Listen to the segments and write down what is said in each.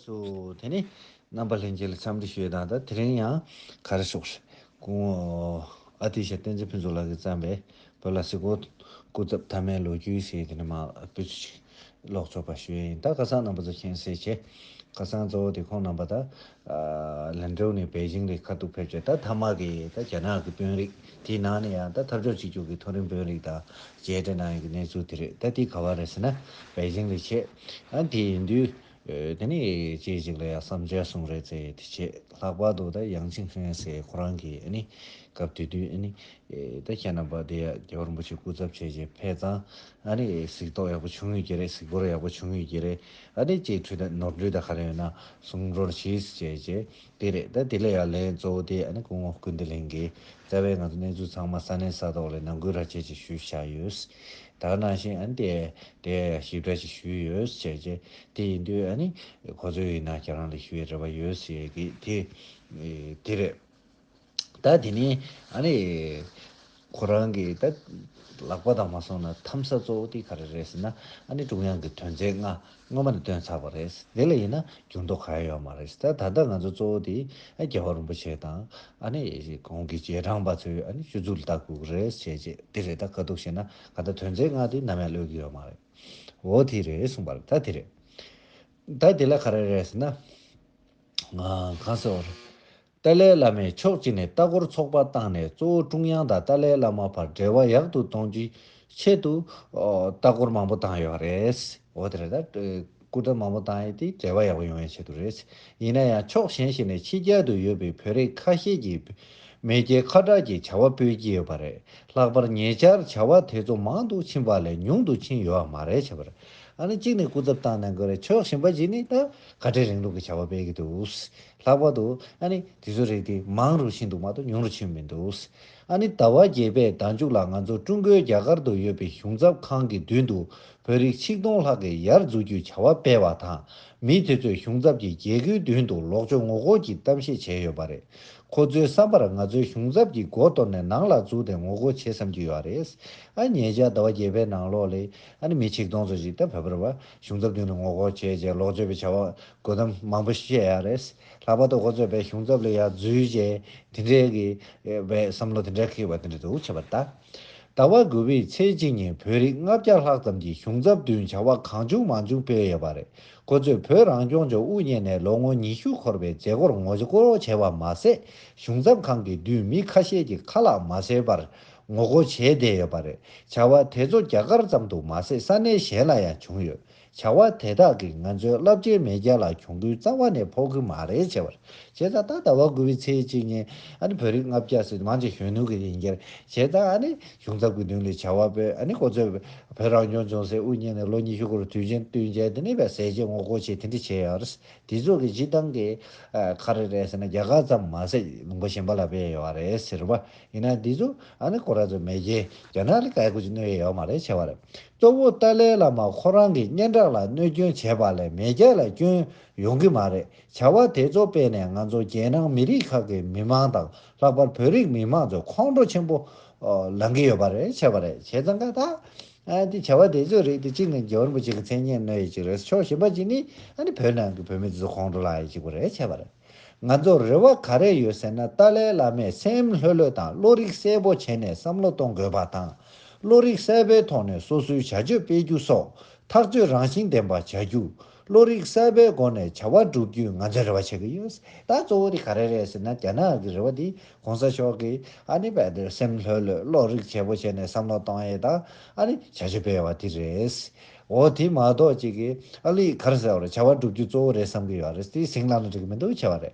སུ། དེ་ནས་རྣམ་པ་ལྷན་རྒྱས་ལ་འཚམས་འདྲི་ཞུས་དང་ད་དེ་རིང་ཡང་ག་རེ་ཤོག། གུང་ཨ་ཏི་ཤ་བསྟན་འཛིན་ཕུན་ཚོགས་ལགས་ཀྱིས་བརྩམས་པའི་བོད་ལ་སི་ཀོ་སྐུ་ཚབ་ཐ་མའི་ལོ་རྒྱུས་ཞེས་དེ་ནས་མ་སྤུས་ཚོད་ཅིག་ཀློག་ཆོག་པ་ཞུས་ཡིན་ད་བཀའ་གསང་རྣམ་པ་ཚོ་མཁྱེན་གསལ་ཆེ། བཀའ་གསང་གཙོ་བོ་དེ་ཁོང་རྣམ་པ་ད་ལན་ཀྲོའུ་ནས་པེ་ཅིང་ལས་ཁ་ཐུག་ཕེབས་རྗེས་ད་ཐ་མ་གི་ད་རྒྱ་ནག་གི་དཔོན་རིགས་དེའི་ནང་ནས་ཡང་ད་ཐབས་ཕྱོགས་གཅིག་གྱུར་གྱི་མཐོ་རིམ་དཔོན་རིགས་དང་མཇལ་འཕྲད་གནང་ཡོད་ཀྱི་གནས་ཚུལ་དེ་རེད་ད་དེ་ག་བ་རེད་ཟེར་ན་པེ་ཅིང་ལས་ཆེད་ཨ་དེ་ཡིན་དུས། དེ་ནས་ཅིག་ཅིག་ལ་ཡང་བསམ་འཆར་གསུང་རེ་ཚེ་དེ་ཆེད་ལྷག་པར་དུ་ད་ཡང་ཅིན་ཧྲན་སི་ཁོ་རང་གི་སྐབས་དེ་དུས་ད་ཁྱེད་རྣམ་པ་འདི་ཡ་རྒྱལ་པོ་རིན་པོ་ཆེ་སྐུ་ཚབ་བྱས་རྗེས་ཕེབས་དང་གཟིགས་རྟོག་ཡག་པོ་བྱུང་ཡོད་ཀྱི་རེད་གཟིགས་སྐོར་ཡག་པོ་བྱུང་ཡོད་ཀྱི་རེད་ཅེས་ཁྲུས་དང་ནོར་འཁྲུལ་དང་ཧ་ལས་ཡོད་ན་གསུང་རོགས་གྱིས་ཅེས་བྱས་རྗེས། དེ་རེད་ད་དེ་ལས་ཡ་ལན་གཙོ་བོ་དེ་ཨ་ནི་སྐུ་ངོ་སྐུ་འདི་ལེན་དགོས་རྩ་བའི་ང་ཚོ་གནས་ཚུལ་ཚང་མ་ས་གནས་ས་ཐོག་ལས་ནང་ཁུལ་ར་ཆས་ཅིག་ཞུས་བཞག་ཡོད་དར་ནང་བཞིན་ཨ་ནི་དེ་དེ་ཞིབ་ཕྲ་ཞིག་ཞུས་ཡོད་བྱས་རྗེས་དེ་ཡིན་དུས་ཨ་ནི་ཁོ་ཚོའི་ཡིན་ན་ཁྱེད་རང་ལས་ཞུ་བའི་རེ་བ་ཡོད་ཟེར་གི་དེ་དེ་རེད། ད་དེ་ནས་ཨ་རེ། ཁོ་རང་གི་ད་ལག་པ་དང་མ་སོང་ན་འཐམ་ས་གཙོ་བོ་དེ་ག་རེ་རེད་ཟེར་ན་ཨ་ནི་ཀྲུང་དབྱང་གི་དོན་ཚན་ལྔ་སྔོན་མ་ནས་བཏོན་ཚར་བ་རེད། དེ་ལ་ཡིན་ན་འགྱུར་མདོག་གང་ཡང་ཡོད་མ་རེད། ད་ད་ལྟ་ང་ཚོ་གཙོ་བོ་དེ་རྒྱལ་བ་རིན་པོ་ཆེ་དང་ཨ་ནི་གོང་གི་རྗེས་འབྲང་པ་ཚོས་ཨ་ནི་སྤྱོད་ཚུལ་ལྟ་ཁུག་རེད་བྱས་རྗེས་དེ་རེད་ད་དཀའ་སྡུག་བྱས་ན་ད་ལྟ་དོན་ཚན་ལྔ་དེ་ནམ་ཡང་ཀློད་གི་ཡོད་མ་རེད། འོ་དེ་རེད་གསུངས་པ་རེད་ད་དེ་རེད། ད་དེ་ལ་ག་རེ་རེད་ཟེར་ན། གང་ཟེར་བ་རེད། ཏཱ་ལའི་བླ་མས་ཕྱོགས་གཅིག་ནས་ལྟ་སྐོར་ཚོགས་པ་བཏང་ནས་གཙོ་བོ་ཀྲུང་དབྱང་དང་ཏཱ་ལའི་བླ་མ་བར་འབྲེལ་བ་ཡག་ཏུ་གཏོང་རྒྱུའི་ཆེད་དུ། ལྟ་སྐོར་མང་པོ་བཏང་ཡོད་རེད། འོ་དེ་རེད་ད། སྐུ་ཕྲེང་མང་པོ་བཏང་ཡོད་དེ་འབྲེལ་བ་ཡག་པོ་ཡོང་བའི་ཆེད་དུ་རེད། ཡིན་ན་ཡང་ཕྱོགས་གཞན་ཞིག་ནས་ཕྱི་རྒྱལ་དུ་ཡོད་པའི་བོད་རིགས་ཁ་ཤས་ཀྱིས་མེས་རྒྱལ་ཁ་གྲགས་ཀྱི་བྱ་བ་སྤེལ་གྱི་ཡོད་པ་རེད། ལྷག་པར་ཉེ་ཆར་བྱ་བ་དེ་ཚོ་མང་དུ་ཕྱིན་པ་ལས་ཉུང་དུ་ཕྱིན་ཡོད་མ་རེད་བྱས་པ་རེད། ཨ་ནི་གཅིག་ནས་སྐུ་ཚབ་བཏང་ནས་འགོས་རེད་ཕྱོགས་གཞན་པ་ཞིག་ནས་ད་ག་དྲིན་རིང་ལུགས་ཀྱི་བྱ་བ་སྤེལ་གྱི་འདུག། ལྷག་པར་དུ་ཨ་ནི་དེ་ཚོའི་རིགས་དེ་མང་རུ་ཕྱིན་འདུག་མ་གཏོགས་ཉུང་རུ་ཕྱིན་མི་འདུག་ཨ་ནི་ཟླ་བ་བརྒྱད་པའི་ཟླ་མཇུག་ལ་ང་ཚོ་ཀྲུང་གོའི་རྒྱ་གར་དུ་ཡོད་པའི་གཞུང་ཚབ་ཁང་གི་མདུན་དུ་བོད་རིགས་ཆིག་སྟོང་ལྷག་གིས་ཡར་འཛུགས་རྒྱུའི་བྱ་བ་སྤེལ་བ་དང་མི་དེ་ཚོས་གཞུང་ཚབ་ཀྱི་རྒྱལ་སྒོའི་མདུན་དུ་ལོག་ཆོག་ངོ་རྒོལ་གྱི་གཏམ་བཤད་བྱས་ཡོད་པ་རེད་ཁོ་ཚོའི་བསམ་པར་ང་ཚོའི་གཞུང་ཚབ་ཀྱི་སྒོ་གཏོར་ནས་ནང་ལ་བཙུགས་ཏེ་ངོ་རྒོལ་བྱེད་བསམ་གྱི་ཡོད་རེད་ཨ་ཉེ་ཆར་ཟླ་བ་བརྒྱད་པའི་ནང་ལོགས་ལས་ཨ་ནི་མི་ཆིག་སྟོང་ཚོ་ཞིག་ད་བོད་པར་བ་གཞུང་ཚབ་མདུན་དུ་ངོ་རྒོལ་བྱས་རྗེས་ལོག་ཆོད་པའི་བྱ་བ་དགོད་གཏམ་མང་པོ་བཤད་ཡག་རེད། ལྷག་པར་དུ་ཁོ་ཚོས་བལ་གཞུང་ཚབ་ལ་ཡག་རྫུས་བྱས་དེ་འདྲའི་གི་བའི་བསམ་བློ་དེ་འདྲ་ཁེགས་པ་དེ་འདྲ་འདུག་ཁྱད་པར་ད་ལྟ་བ་དགུ་བའི་ཚེས་གཅིག་ཉིན་བོད་རིགས་ལྔ་བརྒྱ་ལྷག་ཙམ་གྱིས་གཞུང་ཚབ་བདུན་བྱ་བ་གང་བྱུང་མང་བྱུང་སྤེལ་ཡོད་པ་རེད་ཁོ་ཚོས་བོད་རང་སྐྱོང་ལྗོངས་དབུ་བརྙེས་ནས་ལོ་ངོ་ཉི་ཤུ་འཁོར་བའི་མཛད་སྒོར་ངོ་རྒོལ་བྱས་པ་མ་ཟད་གཞུང་ཚབ་ཁང་གི་བདུད་མི་ཁ་ཤས་ཀྱི་ཁ་ལག་མ་སེལ་བར་ངོ་རྒོལ་བྱས་བསྡད་ཡོད་པ་རེད་བྱ་བ་དེ་ཚོ་རྒྱ་གར་ཙམ་དུ་མ་ཟད་ས་གནས་གཞན་ལ་ཡང་བྱུང་ཡོད་བྱ་བ་དེ་དག་གིས་ང་ཚོའི་རླབས་ཆེན་མེས་རྒྱལ་ལ་གྱོང་གུན་གཙང་བ་ནས་ཕོག་གི་མ་རེད་བྱས་པར་བྱས་ཙང་ད་ད་བར་དགུ་བའི་ཚེས་གཅིག་ཉིན་ཨ་ནི་བོད་རིགས་ལྔ་བརྒྱ་སྲིད་དམངས་ཀྱི་གཞོན་ནུ་གི་ཡིན་རྒྱལ་བྱས་ཙང་ཨ་ནི་གཞུང་ཚབ་ཀྱི་མདུན་ལས་བྱ་བ་སྤེལ་ཨ་ནི་གོ་ཚོད་བོད་རང་སྐྱོང་ལྗོངས་སྲིད་ཨུ་གཉེར་ནས་ལོ་ཉི་ཤུ་འགོར་དུས་ཆེན་བསྟུན་མཇལ་དེ་ནས་བས་ཟས་བཅད་ངོ་རྒོལ་བྱེད་དེ་འདྲི་བྱས་ཡོད་རེད་དེ་ཚོ་གི་སྤྱི་བཏང་གི་ཁ་རེད་རེད་ཟེར་ན་རྒྱ་གར་ཙམ་མ་ཟད་ལུང་པ་གཞན་པ་ལ་བས་ཡོད་རེད་ཟེར་བ་ཡིན་ན་འདི་ཚོ་ཨ་ནི་ཁོ་ར་ཚོ་མེས་རྒྱལ་རྒྱ་ནག་ལ་བཀའི་བཀོད་ཀྱི་གནོད་ཡས་ཡོད་མ་རེད་བྱས་པར་གཙོ་བོ་ཏཱ་ལའི་བླ་མ་ཁོ་རང་གི་སྙན་གྲགས་ལ་གནོད་སྐྱོན་བྱས་པ་ལས་མེས་རྒྱལ་ལ་སྐྱོན་ཡོང་གི་མ་རེད་བྱ་བ་དེ་ཚོ་སྤེལ་ནས་ང་ཚོ་རྒྱལ་ནང་མི་རིགས་ཁག་གི་མི་མང་དང་ལྷག་པར་བོད་རིགས་མི་མང་ཚོ་ཁོང་ཁྲོ་ཆེན་པོ་ལང་གི་ཡོད་པ་རེད་བྱས་པ་རེད་བྱས་ཙང་ཀ་ད་དེ་བྱ་བ་དེ་ཚོའི་རིགས་དེ་གཅིག་ནི་རྒྱལ་བ་རིན་པོ་ཆེ་གི་མཚན་སྙན་གནོད་ཡས་གཅིག་རེད་ཕྱོགས་གཞན་པ་གཅིག་ནི་ཕོ་ནང་གི་བོད་མི་དེ་ཚོ་ཁོང་ཁྲོ་ལང་ཡས་གཅིག་པོ་རེད་བྱས་པ་རེད། ང་ཚོར་རེ་བ་ག་རེ་ཡོད་ཟེར་ན་ཏཱ་ལའི་བླ་མས་སེམས་ལྷོད་ལྷོད་དང་བློ་རིག་གསལ་པོ་བྱས་ནས་བསམ་བློ་གཏོང་དགོས་པ་དང། བློ་རིག་གསལ་པོའི་ཐོག་ནས་སོ་སོའི་བྱ་སྤྱོད་སྤེལ་རྒྱུ་སོགས་ཐག་གཅོད་རང་བཞིན་ལྡན་པ་བྱ་རྒྱུ། བློ་རིག་གསལ་པོའི་སྒོ་ནས་བྱ་བ་བསྒྲུབ་རྒྱུའི་ང་ཚོས་རེ་བ་བྱེད་ཀྱི་ཡོད། ད་གཙོ་བོ་དེ་ག་རེ་རེད་ཟེར་ན་རྒྱ་ནག་གི་རེ་བ་དེ་གོང་ས་མཆོག་གིས་ཨ་ནི་བལ་དེར་སེམས་ལྷོད་ལྷོད་བློ་རིག་བྱེད་པོ་བྱས་ནས་བསམ་བློ་གཏོང་ཡས་དང་ཨ་ནི་བྱ་སྤྱོད་སྤེལ་བ་དེ་རེད། འོ་དེ་མ་གཏོགས་ཅིག་གིས་ཨ་ལི་ཁར་ཟེར་བར་བྱ་བ་བསྒྲུབ་རྒྱུ་གཙོ་བོ་རེད་བསམ་གི་ཡོད་རེད་དེ་ཟིང་ལ་ལ་འགྲིག་གི་མི་འདུག་བྱ་བ་རེད་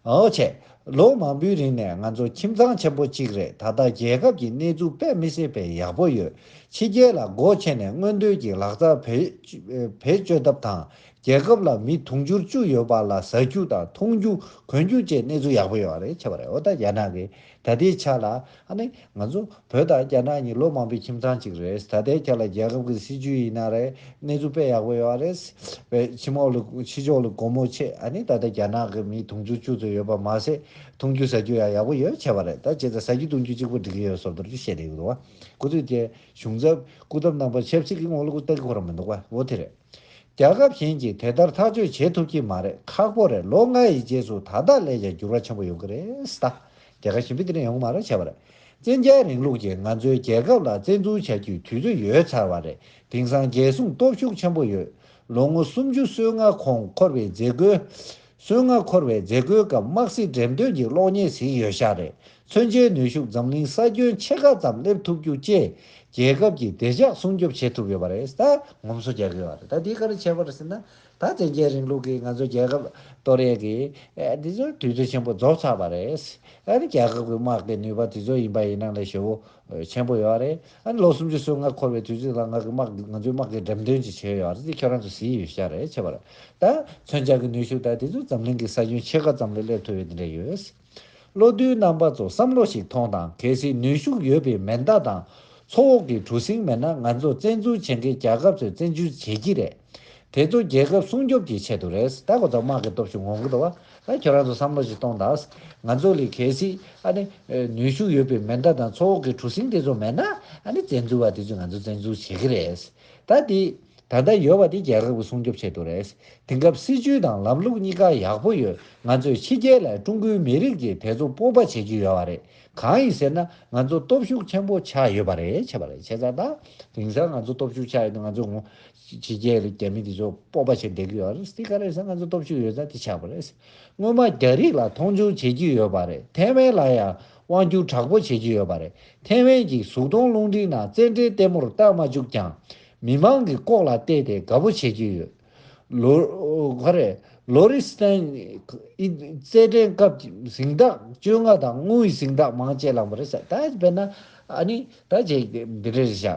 འོ་བྱས། ལོ་མང་པོའི་རིང་ནས་ང་ཚོ་ཁྱིམ་ཚང་ཆེན་པོ་གཅིག་རེད་ད་ལྟ་རྒྱལ་ཁབ་ཀྱི་གནས་ཚུལ་དཔེ་མི་སྲིད་པའི་ཡག་པོ་ཡོད་ཕྱི་རྒྱལ་ལ་སྒོ་ཕྱེ་ནས་སྔོན་ཐོན་གྱི་ལག་རྩལ་བེད་སྤྱོད་ཐབས་དང་རྒྱལ་ཁབ་ལ་མི་དུང་ཕྱུར་བཅུ་ཡོད་པ་ལ་ཟ་རྒྱུ་དང་འཐུང་རྒྱུ་གོན་རྒྱུ་བཅས་གནས་ཚུལ་ཡག་པོ་ཡོད་རེད་བྱ་བ་རེད་འོ་ད་རྒྱ་ནག་གི་ད་ལྟའི་ཆ་ལ་ཨ་ནི་ང་ཚོ་བོད་དང་རྒྱ་ནག་གཉིས་ལོ་མང་པོའི་ཁྱིམ་ཚང་གཅིག་རེད། ད་ལྟའི་ཆ་ལ་རྒྱལ་ཁབ་ཀྱི་སྲིད་བྱུས་ཡིན་ན་རེད་གནས་ཚུལ་དཔེ་ཡག་པོ་ཡོད་རེད། བའི་ཕྱི་མོག་ལ་ཕྱི་ཕྱོགས་ལ་སྒོར་མོ་ཆེད་ཨ་ནི་ད་ལྟ་རྒྱ་ནག་གི་མིའི་དུང་ཕྱུར་བཅུ་ཙམ་ཡོད་པ་མ་ཟད་འཐུང་རྒྱུ་ཟ་རྒྱུ་ཡང་ཡག་པོ་ཡོད་བྱས་པ་རེད་ད་ཇི་ལྟར་ཟ་རྒྱུ་འཐུང་རྒྱུ་གཅིག་པོ་འགྲིག་གི་ཡོད་ཟོབ་དོར་གྱི་བཤད་ལེ་གི་འདུག་བ། སྐུ་ཚེ་བརྒྱད་གཞུང་ཚབ་སྐུ་ཚབ་རྣམ་པ་ཆབ་སྲིད་ཀྱི་ངོ་ལ་ཀུ་རྟ་གི་འཁོར་ར་མི་འདུག་བ་བོ་དེ་རེད། རྒྱལ་ཁབ་གཞན་གྱིས་དེ་ལྟར་ཐག་གཅོད་བྱེད་ཐུབ་ཀྱི་མ་རེད་ཁག་པོ་རེད་ལོ་ལྔ་ཡི་རྗེས་སུ་ད་ལྟ་ལས་ཀྱང་འགྱུར་བ་ཆེན་པོ་ཡོང་གི་རེད་ད། རྒྱལ་ཁ་ཞིམ་པོ་དེ་རིང་ཡོང་མ་རེད་བྱས་པ་རེད། བཙན་རྒྱལ་རིང་ལུགས་ཀྱིས་ང་ཚོའི་རྒྱལ་ཁབ་ལ་བཙན་འཛུལ་བྱ་རྒྱུའི་དུས་ཚོད་ཡོལ་ཚར་བ་རེད་དེང་སང་རྒྱལ་སྲུང་སྟོབས་ཤུགས་ཆེན་པོ་ཡོད། ལོ་ངོ་སུམ་ཅུ་སོའི་མངའ་ཁོངས་འཁོར་བའི་མཛད་སྒོའི། སོན་ལྔ་འཁོར་བའི་མཛད་སྒོའི་སྐབས་དམག་སྲིད་འགྲེམས་སྟོན་གྱི་གློག་བརྙན་གཟིགས་ཡོད་ཤག་རེད་མཚོན་ཆའི་ནུས་ཤུགས་འཛམ་གླིང་ས་ཁྱོན་ཕྱེད་ཀ་ཙམ་སླེབས་ཐུབ་རྒྱུ་བཅས་རྒྱལ་ཁབ་ཀྱི་བདེ་འཇགས་སྲུང་སྐྱོབ་བྱེད་ཐུབ་ཡོད་པ་རེད་ད། ངོམ་སོ་རྒྱག་གི་ཡོད་རེད་ད་དེ་ག་རེ་བྱས་པ་རེད་ཟེར་ན། ད་བཙན་རྒྱལ་རིང་ལུགས་ཀྱིས་ང་ཚོའི་རྒྱལ་ཁབ་གཏོར་ཡས་ཀྱི། དེ་ཚོའི་དུས་ཚོད་ཆེན་པོ་རྫོགས་ཚར་བ་རེད། ཨ་རི་རྒྱལ་ཁབ་ཀྱི་དམག་གི་ནུས་པ་དེ་ཚོ་ཡིན་པ་ཡིན་ན་ལས་ཞོའོ། ཆེན་པོ་ཡོད་རེད་ཨ་ལོ་སུམ་ཅུ་སོ་ལྔ་འཁོར་བའི་དུས་ཚོད་ལ་ང་གི་དམག་ང་ཚོའི་དམག་གི་འགྲེམས་སྟོན་ཅིག་བྱས་ཡོད་རེད་དེ་ཁྱོད་རང་ཚོ་ཟིན་ཡོད་ཤག་རེད་ཆེ་བ་རེད་ད་མཚོན་ཆ་གི་ནུས་ཤུགས་དག་དེ་ཚོ་འཛམ་གླིང་གི་ས་ཁྱོན་ཕྱེད་ཀ་ཙམ་ལ་སླེབས་ཐུབ་ཡོད་དེ་འདྲ་ཡོད་བློ་མཐུན་རྣམ་པ་ཚོ་བསམ་བློ་ཞིག་ཐོངས་དང་གལ་སྲིད་ནུས་ཤུགས་ཡོད་པའི་མེ་མདའ་དང་མཚོ་འོག་གི་གྲུ་གཟིངས་མེད་ན་ང་ཚོ་བཙན་འཛུལ་བྱེད་མཁན་རྒྱལ་ཁབ་ཚོས་བཙན་འཛུལ་བྱེད་ཀྱི་རེད་དེ་ཚོ་རྒྱལ་ཁབ་སྲུང་སྐྱོབ་ཀྱི་ཆེད་དུ་རེད་ད་གོ་ཐོག་དམག་གི་སྟོབས་ཤུགས་ངོ་རྒོལ་བ་ད་ཁྱོད་རང་ཚོ་བསམ་བློ་ཞིག་གཏོང་དང་ང་ཚོ་ལས་གལ་སྲིད་ཨ་ནི་ནུས་ཤུགས་ཡོད་པའི་མེ་མདའ་དང་མཚོ་འོག་གི་གྲུ་གཟིངས་དེ་ཚོ་མེད་ན་ཨ་ནི་བཙན་འཛུལ་བ་དེ་ཚོས་ང་ཚོ་བཙན་འཛུལ་བྱེད་ཀྱི་རེད་ད་དེ་ད་ལྟ་ཡོད་བ་དེ་རྒྱལ་ཁབ་ཀྱི་སྲུང་སྐྱོབ་ཆེད་དུ་རེད་དེང་སྐབས་སྲིད་ཇུས་དང་ལམ་ལུགས་གཉིས་ཀ་ཡག་པོ་ཡོད་ང་ཚོས་ཕྱི་རྒྱལ་ལ་ཀྲུང་གོའི་མི་རིགས་ཀྱིས་དེ་ཚོ་སྤོབས་པ་བྱེད་ཀྱི་ཡོད་བ་རེད་གང་ཡིན་ཟེར་ན་ང་ཚོ་སྟོབས་ཤུགས་ཆེན་པོ་ཆགས་ཡོད་བ་རེད་བྱས་པ་རེད་བྱས་ཙང་ད་དེང་སང་ང་ཚོ་སྟོབས་ཤུགས་ཆགས་ཡོད་དེ་ང་ཚོས་ངོ་ཕྱི་རྒྱལ་རིགས་རྒྱ་མི་དེ་ཚོ་སྤོབས་པ་ཆེ་བསྡད་ཀྱི་ཡོད་རེད་དེ་ག་རེད་ས་ང་ཚོ་སྟོབས་ཤུགས་ཡོད་ས་དེ་ཆགས་པ་རེད་སྔོན་མ་རྒྱ་རིགས་ལ་མཐོང་ཆུང་བྱེད་ཀྱི་ཡོད་པ་རེད་ཐེ་ཝན་ལ་ཡང་དབང་བསྒྱུར་དྲག་པོ་བྱེད་ཀྱི་ཡོད་པ་རེད་ཐེ་ཝན་གྱི་གཟུགས་མཐོང་རླུང་འཕྲིན་ནང་བཙན་འགྲེལ་ལྟད་མོར་བལྟ་མ་བཅུག་ཀྱང་མི་མང་གི་ལྐོག་ལ་བལྟས་ཏེ་དགའ་པོ་བྱེད་ཀྱི་ཡོད། ལོ། ག་རེད། ལོ་རི་སྟན། ཨི། རྩེད་འགྲན་སྐབས་ཀྱི་གཟེངས་རྟགས་བཅོ་ལྔ་དང་དངུལ་གཟེངས་རྟགས་མང་བཅས་བླངས་པ་རེད་ས་ད་བས་ན་ཨ་ནི་ད་བྱས་འདི་འདྲ་རེད་བཞག་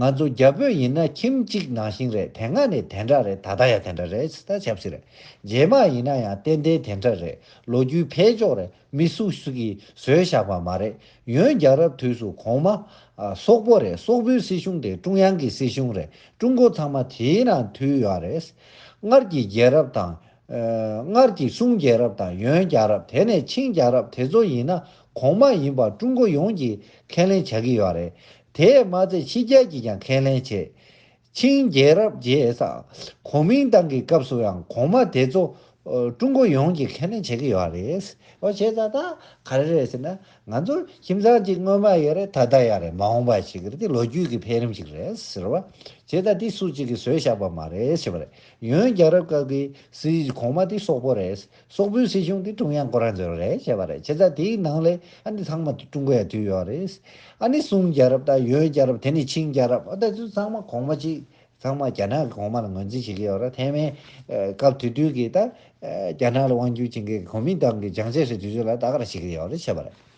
ང་ཚོ་རྒྱ་བོད་ཡིན་ན་ཁྱིམ་གཅིག་ནང་བཞིན་རེད་དེ་སྔ་ནས་དེ་འདྲ་རེད་ད་ལྟ་ཡང་དེ་འདྲ་རེད་ད་ཆབ་སྲིད་རེད་རྗེས་མ་ཡིན་ན་ཡང་ཏན་ཏན་དེ་འདྲ་རེད་ལོ་རྒྱུས་འཕེལ་ཕྱོགས་རེད་མི་སུ་ཞིག་གིས་བཟོས་བཞག་པ་མ་རེད་ཡོན་རྒྱལ་རབས་དུས་སུ་གོང་མ། སོག་པོ་རེད་སོག་པོའི་སྲིད་གཞུང་དེ་ཀྲུང་དབྱང་གི་སྲིད་གཞུང་རེད་ཀྲུང་གོ་ཚང་མ་དེའི་ནང་འཐུས་ཡོད་རེད། སྔར་གྱི་རྒྱལ་རབས་དང། སྔར་གྱི་སུང་རྒྱལ་རབས་དང་ཡོན་རྒྱལ་རབས་དེ་ནས་ཆིང་རྒྱལ་རབས་དེ་ཚོ་ཡིན་ན་གོང་མ་ཡིན་པར་ཀྲུང་གོ་ཡོངས་ཀྱིས་ཁས་ལེན་བྱ་གི་ཡོད་རེད། དེས་མ་ཚད་ཕྱི་རྒྱལ་གྱིས་ཀྱང་ཁས་ལེན་བྱེད། ཆིང་རྒྱལ་རབས་རྗེས་གོ་མིན་ཏང་གི་སྐབས་སུ་ཡང་གོང་མ་དེ་ཚོ་ཀྲུང་གོ་ཡོངས་ཀྱིས་ཁས་ལེན་བྱེད་གི་ཡོད་རེད། ཨོ་བྱས་ཙང་ད་ག་རེ་རེད་ཟེར་ན་ང་ཚོར་ཁྱིམ་ཚང་གཅིག་སྔོན་མ་ཡོད་རེད་ད་ལྟ་ཡང་རེད་མ་འོངས་པ་ཞིག་རེད་དེ་ལོ་རྒྱུས་ཀྱི་འཕེལ་རིམ་ཞིག་རེད་ཟེར་བ། བྱས་ཙང་དེ་སུ་གཅིག་གིས་བཟོས་བཞག་པ་མ་རེད་ཞེས་པ་རེད། ཡོན་རྒྱལ་རབས་སྐབས་ཀྱི་སྲིད་བྱུས་གོང་མ་དེ་སོག་པོ་རེད། སོག་པོའི་སྲིད་གཞུང་དེ་ཀྲུང་དབྱང་ཀོ་རང་ཟེར་བ་རེད་བཤད་པ་རེད་བྱས་ཙང་དེའི་ནང་ལས་ཨ་ནི་ཚང་མ་ཀྲུང་གོ་ཡ་དུས་ཡོད་རེད། ཨ་ནི་སུང་རྒྱལ་རབས་དང་ཡོན་རྒྱལ་རབས་དེ་ནས་ཆིང་རྒྱལ་རབས་ཨ་ད་ཚུ་ཚང་མ་གོང་མ་གཅིག་ཚང་མ་རྒྱ་ནག་གི་གོང་མ་ལ་ངོས་འཛིན་བྱེད་ཀྱི་ཡོད་རེད་ཐེ་ཝན་སྐབས་དུས་དུས་ཀྱི་ད་རྒྱ་ནག་ལ་དབང་བསྒྱུར་བྱེད་མཁན་གོ་མིན་ཏང་གི་བྱང་ཆ་ཞིག་དུས་ཚོད་ལ་ད་ག་རང་བྱེད་ཀྱི་ཡོད་རེད་བཤད་པ་རེད།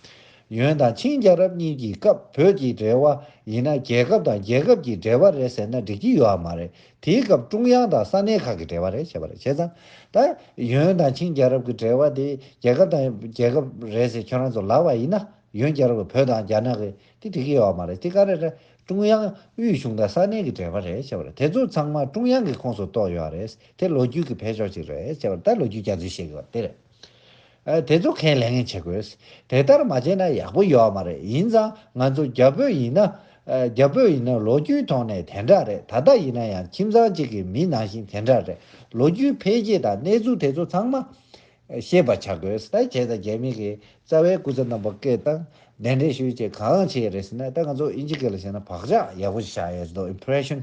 ཡོན་དང་ཆིང་རྒྱལ་རབས་གཉིས་ཀྱི་སྐབས་བོད་ཀྱི་འབྲེལ་བ་ཡིན་ན་རྒྱལ་ཁབ་དང་རྒྱལ་ཁབ་ཀྱི་འབྲེལ་བ་རེད་ཟེར་ན་འགྲིག་གྱི་ཡོད་མ་རེད་དེའི་སྐབས་ཀྲུང་དབྱང་དང་ས་གནས་ཁག་གི་འབྲེལ་བ་རེད་བྱས་པ་རེད་བྱས་ཙང། ད། ཡོན་དང་ཆིང་རྒྱལ་རབས་ཀྱི་འབྲེལ་བ་དེ་རྒྱལ་ཁབ་དང་རྒྱལ་ཁབ་རེད་ཟེར་ཁྱོད་རང་ཚོ་ལགས་པ་ཡིན་ན། ཡོན་རྒྱལ་རབས་བོད་དང་རྒྱ་ནག་གི་དེ་འགྲིག་གི་ཡོད་མ་རེད་དེ་ག་རེ་རེད། ཀྲུང་དབྱང་དབུས་གཞུང་དང་ས་གནས་ཀྱི་འབྲེལ་བ་རེད་བྱས་པ་རེད་དེ་ཚོ་ཚང་མ་ཀྲུང་དབྱང་གི་ཁོངས་སུ་གཏོགས་ཡོད་རེད་དེ་ལོ་རྒྱུས་ཀྱི་འཕེལ་ཕྱོགས་ཅིག་རེད་བྱས་པ་རེད་ད་ལོ་རྒྱུས་རྒྱ་མཚོས་བཤད་གི་བ་དེ་རེད། དེ་ཚོ་ཁས་ལེན་བྱེད་དགོས། དེ་ལྟར་མ་བྱས་ན་ཡག་པོ་ཡོད་མ་རེད་ཡིན་ཙང་ང་ཚོ་རྒྱ་བོད་ཡིན་ན། རྒྱ་བོད་ཡིན་ན་ལོ་རྒྱུས་ཐོག་ནས་དེ་འདྲ་རེད་ད་ལྟ་ཡིན་ན་ཡང་ཁྱིམ་ཚང་གཅིག་གི་མི་ནང་བཞིན་དེ་འདྲ་རེད་ལོ་རྒྱུས་འཕེལ་རྒྱས་དང་གནས་ཚུལ་དེ་ཚོ་ཚང་མ་ཤེས་པ་བྱ་དགོས། ད་བྱས་ཙང་རྒྱ་མི་གི་རྩ་བའི་སྐུ་ཚབ་རྣམ་པ་སྐད་བཏང་གདན་འདྲེན་ཞུ་བྱེད་གང་བྱེད་རེད་ཟེར་ན་ད་ང་ཚོ་ཨིན་ཇི་སྐད་ལ་བྱས་ན་བག་ཆགས་ཡག་པོ་ཞིག་བཞག་ཡོད་མདོག impression།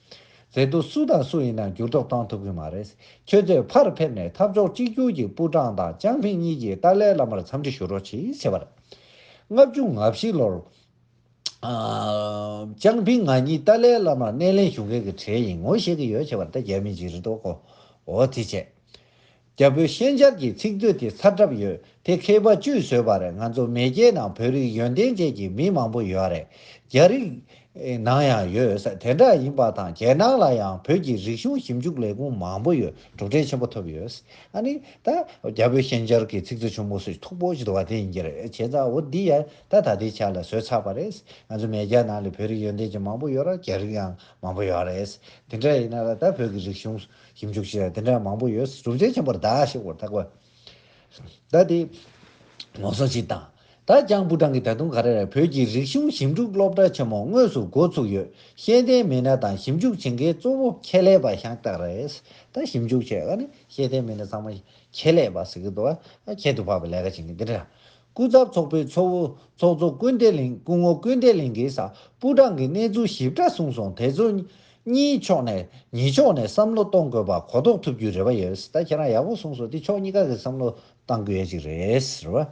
ཟེར་འདུག་སུ་དང་སུ་ཡིན་ན་འགྱུར་ལྡོག་གཏང་ཐུབ་གི་མ་རེད། ཁྱོད་ཚོས་ཕར་ཕེབས་ནས་འཐབ་ཕྱོགས་གཅིག་གྱུར་གྱི་པུའུ་ཀྲང་དང་ཅང་ཕིང་གཉིས་ཀྱིས་ཏཱ་ལའི་བླ་མར་འཚམས་འདྲི་ཞུ་རོགས་གྱིས་བྱས་པ་རེད། ལྔ་བཅུ་ང་བཞི་ལོར། ཅང་ཕིང་ང་གཉིས་ཏཱ་ལའི་བླ་མར་སྣེ་ལེན་ཞུ་མཁན་གྱི་གྲས་ཡིན་ངོ་ཤེས་ཀྱི་ཡོད་བྱས་པ་རེད་ད་རྒྱ་མི་འཇིགས་རེ་དོགས་གོ་འོ་དེ་བྱས། རྒྱ་བོད་ཤན་སྦྱར་གྱི་ཚིག་མཛོད་དེ་ཚར་གྲབས་ཡོད་དེ་མཁས་པ་བཅུས་བཟོས་པ་རེད་ང་ཚོ་མེས་རྒྱལ་ནང་བོད་རིགས་ཡོན་ཏན་ཅན་གྱི་མི་མང་པོ་ཡོད་རེད་རྒྱ་རིགས་ནང་ཡང་ཡོད་ས་དེ་འདྲ་ཡིན་པ་དང་རྒྱལ་ནང་ལ་ཡང་བོད་ཀྱི་རིག་གཞུང་ཞིབ་འཇུག་ལས་ཁུངས་མང་པོ་ཡོད་གྲུབ་འབྲས་ཆེན་པོ་ཐོབ་ཡོད་ཨ་ནི་ད་རྒྱ་བོད་ཤན་སྦྱར་གྱི་ཚིག་མཛོད་ཆུང་མོ་སུས་མཐོ་པོ་ཞིག་བ་དེ་ཡིན་གྱི་རེད་བྱས་ཙང་འོ་འདི་ཡང་ད་ད་ལྟའི་ཆ་ལ་བཟོས་ཚར་བ་རེད་ང་ཚོ་མེས་རྒྱལ་ནང་ལས་བོད་རིགས་ཡོན་ཏན་ཅན་མང་པོ་ཡོད་ར་རྒྱ་རིགས་ཡང་མང་པོ་ཡོད་རེད་དེ་འདྲ་ཡིན་ན་ད་བོད་ཀྱི་རིག་གཞུང་ཞིབ་འཇུག་བྱས་དེ་འདྲ་མང་པོ་ཡོད་གཟུགས་མཛེས་ཆེན་པོར་བདག་ཞེས་བོར་ཐག་པ། ཟླ་འདིའི་ལོ་སོ་གཅིག་དང། ད་ཅང་པུ་ཀྲང་གིས་ད་དུང་ག་རེ་རེ་བོད་ཀྱི་རིག་གཞུང་ཞིབ་འཇུག་སློབ་གྲྭ་ཆེན་མོ་དངོས་སུ་འགོ་ཚུགས་ཡོད་ཤེས་ལྡན་མི་སྣ་དང་ཞིབ་འཇུག་བྱེད་མཁན་གཙོ་བོ་ཁྱད་ལས་པ་ཤང་སྟག་རེད། ད་ཞིབ་འཇུག་བྱེད་ནི་ཤེས་ལྡན་མི་སྣ་ཚང་མ་ཁྱད་ལས་པ་ཟེར་གྱི་འདུག་ཨ་ཁྱད་དུ་འཕགས་པའི་ལས་ཀ་བྱེད་མཁན་དེ་འདྲ་སྐུ་ཚབ་ཚོགས་པའི་ཚོགས་བུ་ཚོགས་གཙོ་སྐུ་འདས་གླིང་སྐུ་ངོ་སྐུ་འདས་གླིང་གིས་ས་སྤུ་གྲངས་ཀྱི་གནས་ཚུལ་ཞིབ་ཕྲ་གསུངས་སོང་དེ་ཚོ། གཉིས་ཕྱོགས་ནས་ཉིས་ཕྱོགས་ནས་བསམ་བློ་གཏོང་དགོས་པ་གོ་རྟོགས་ཐུབ་རྒྱུའི་རེ་བ་ཡོད་ད་ཁྱེད་རང་ཡག་པོ་གསུངས་སོང་དེ་ཕྱོགས་གཉིས་ཀ་གི་བསམ་བློ་གཏང་དགོས་ཡ་ཅིག་རེད་རེད་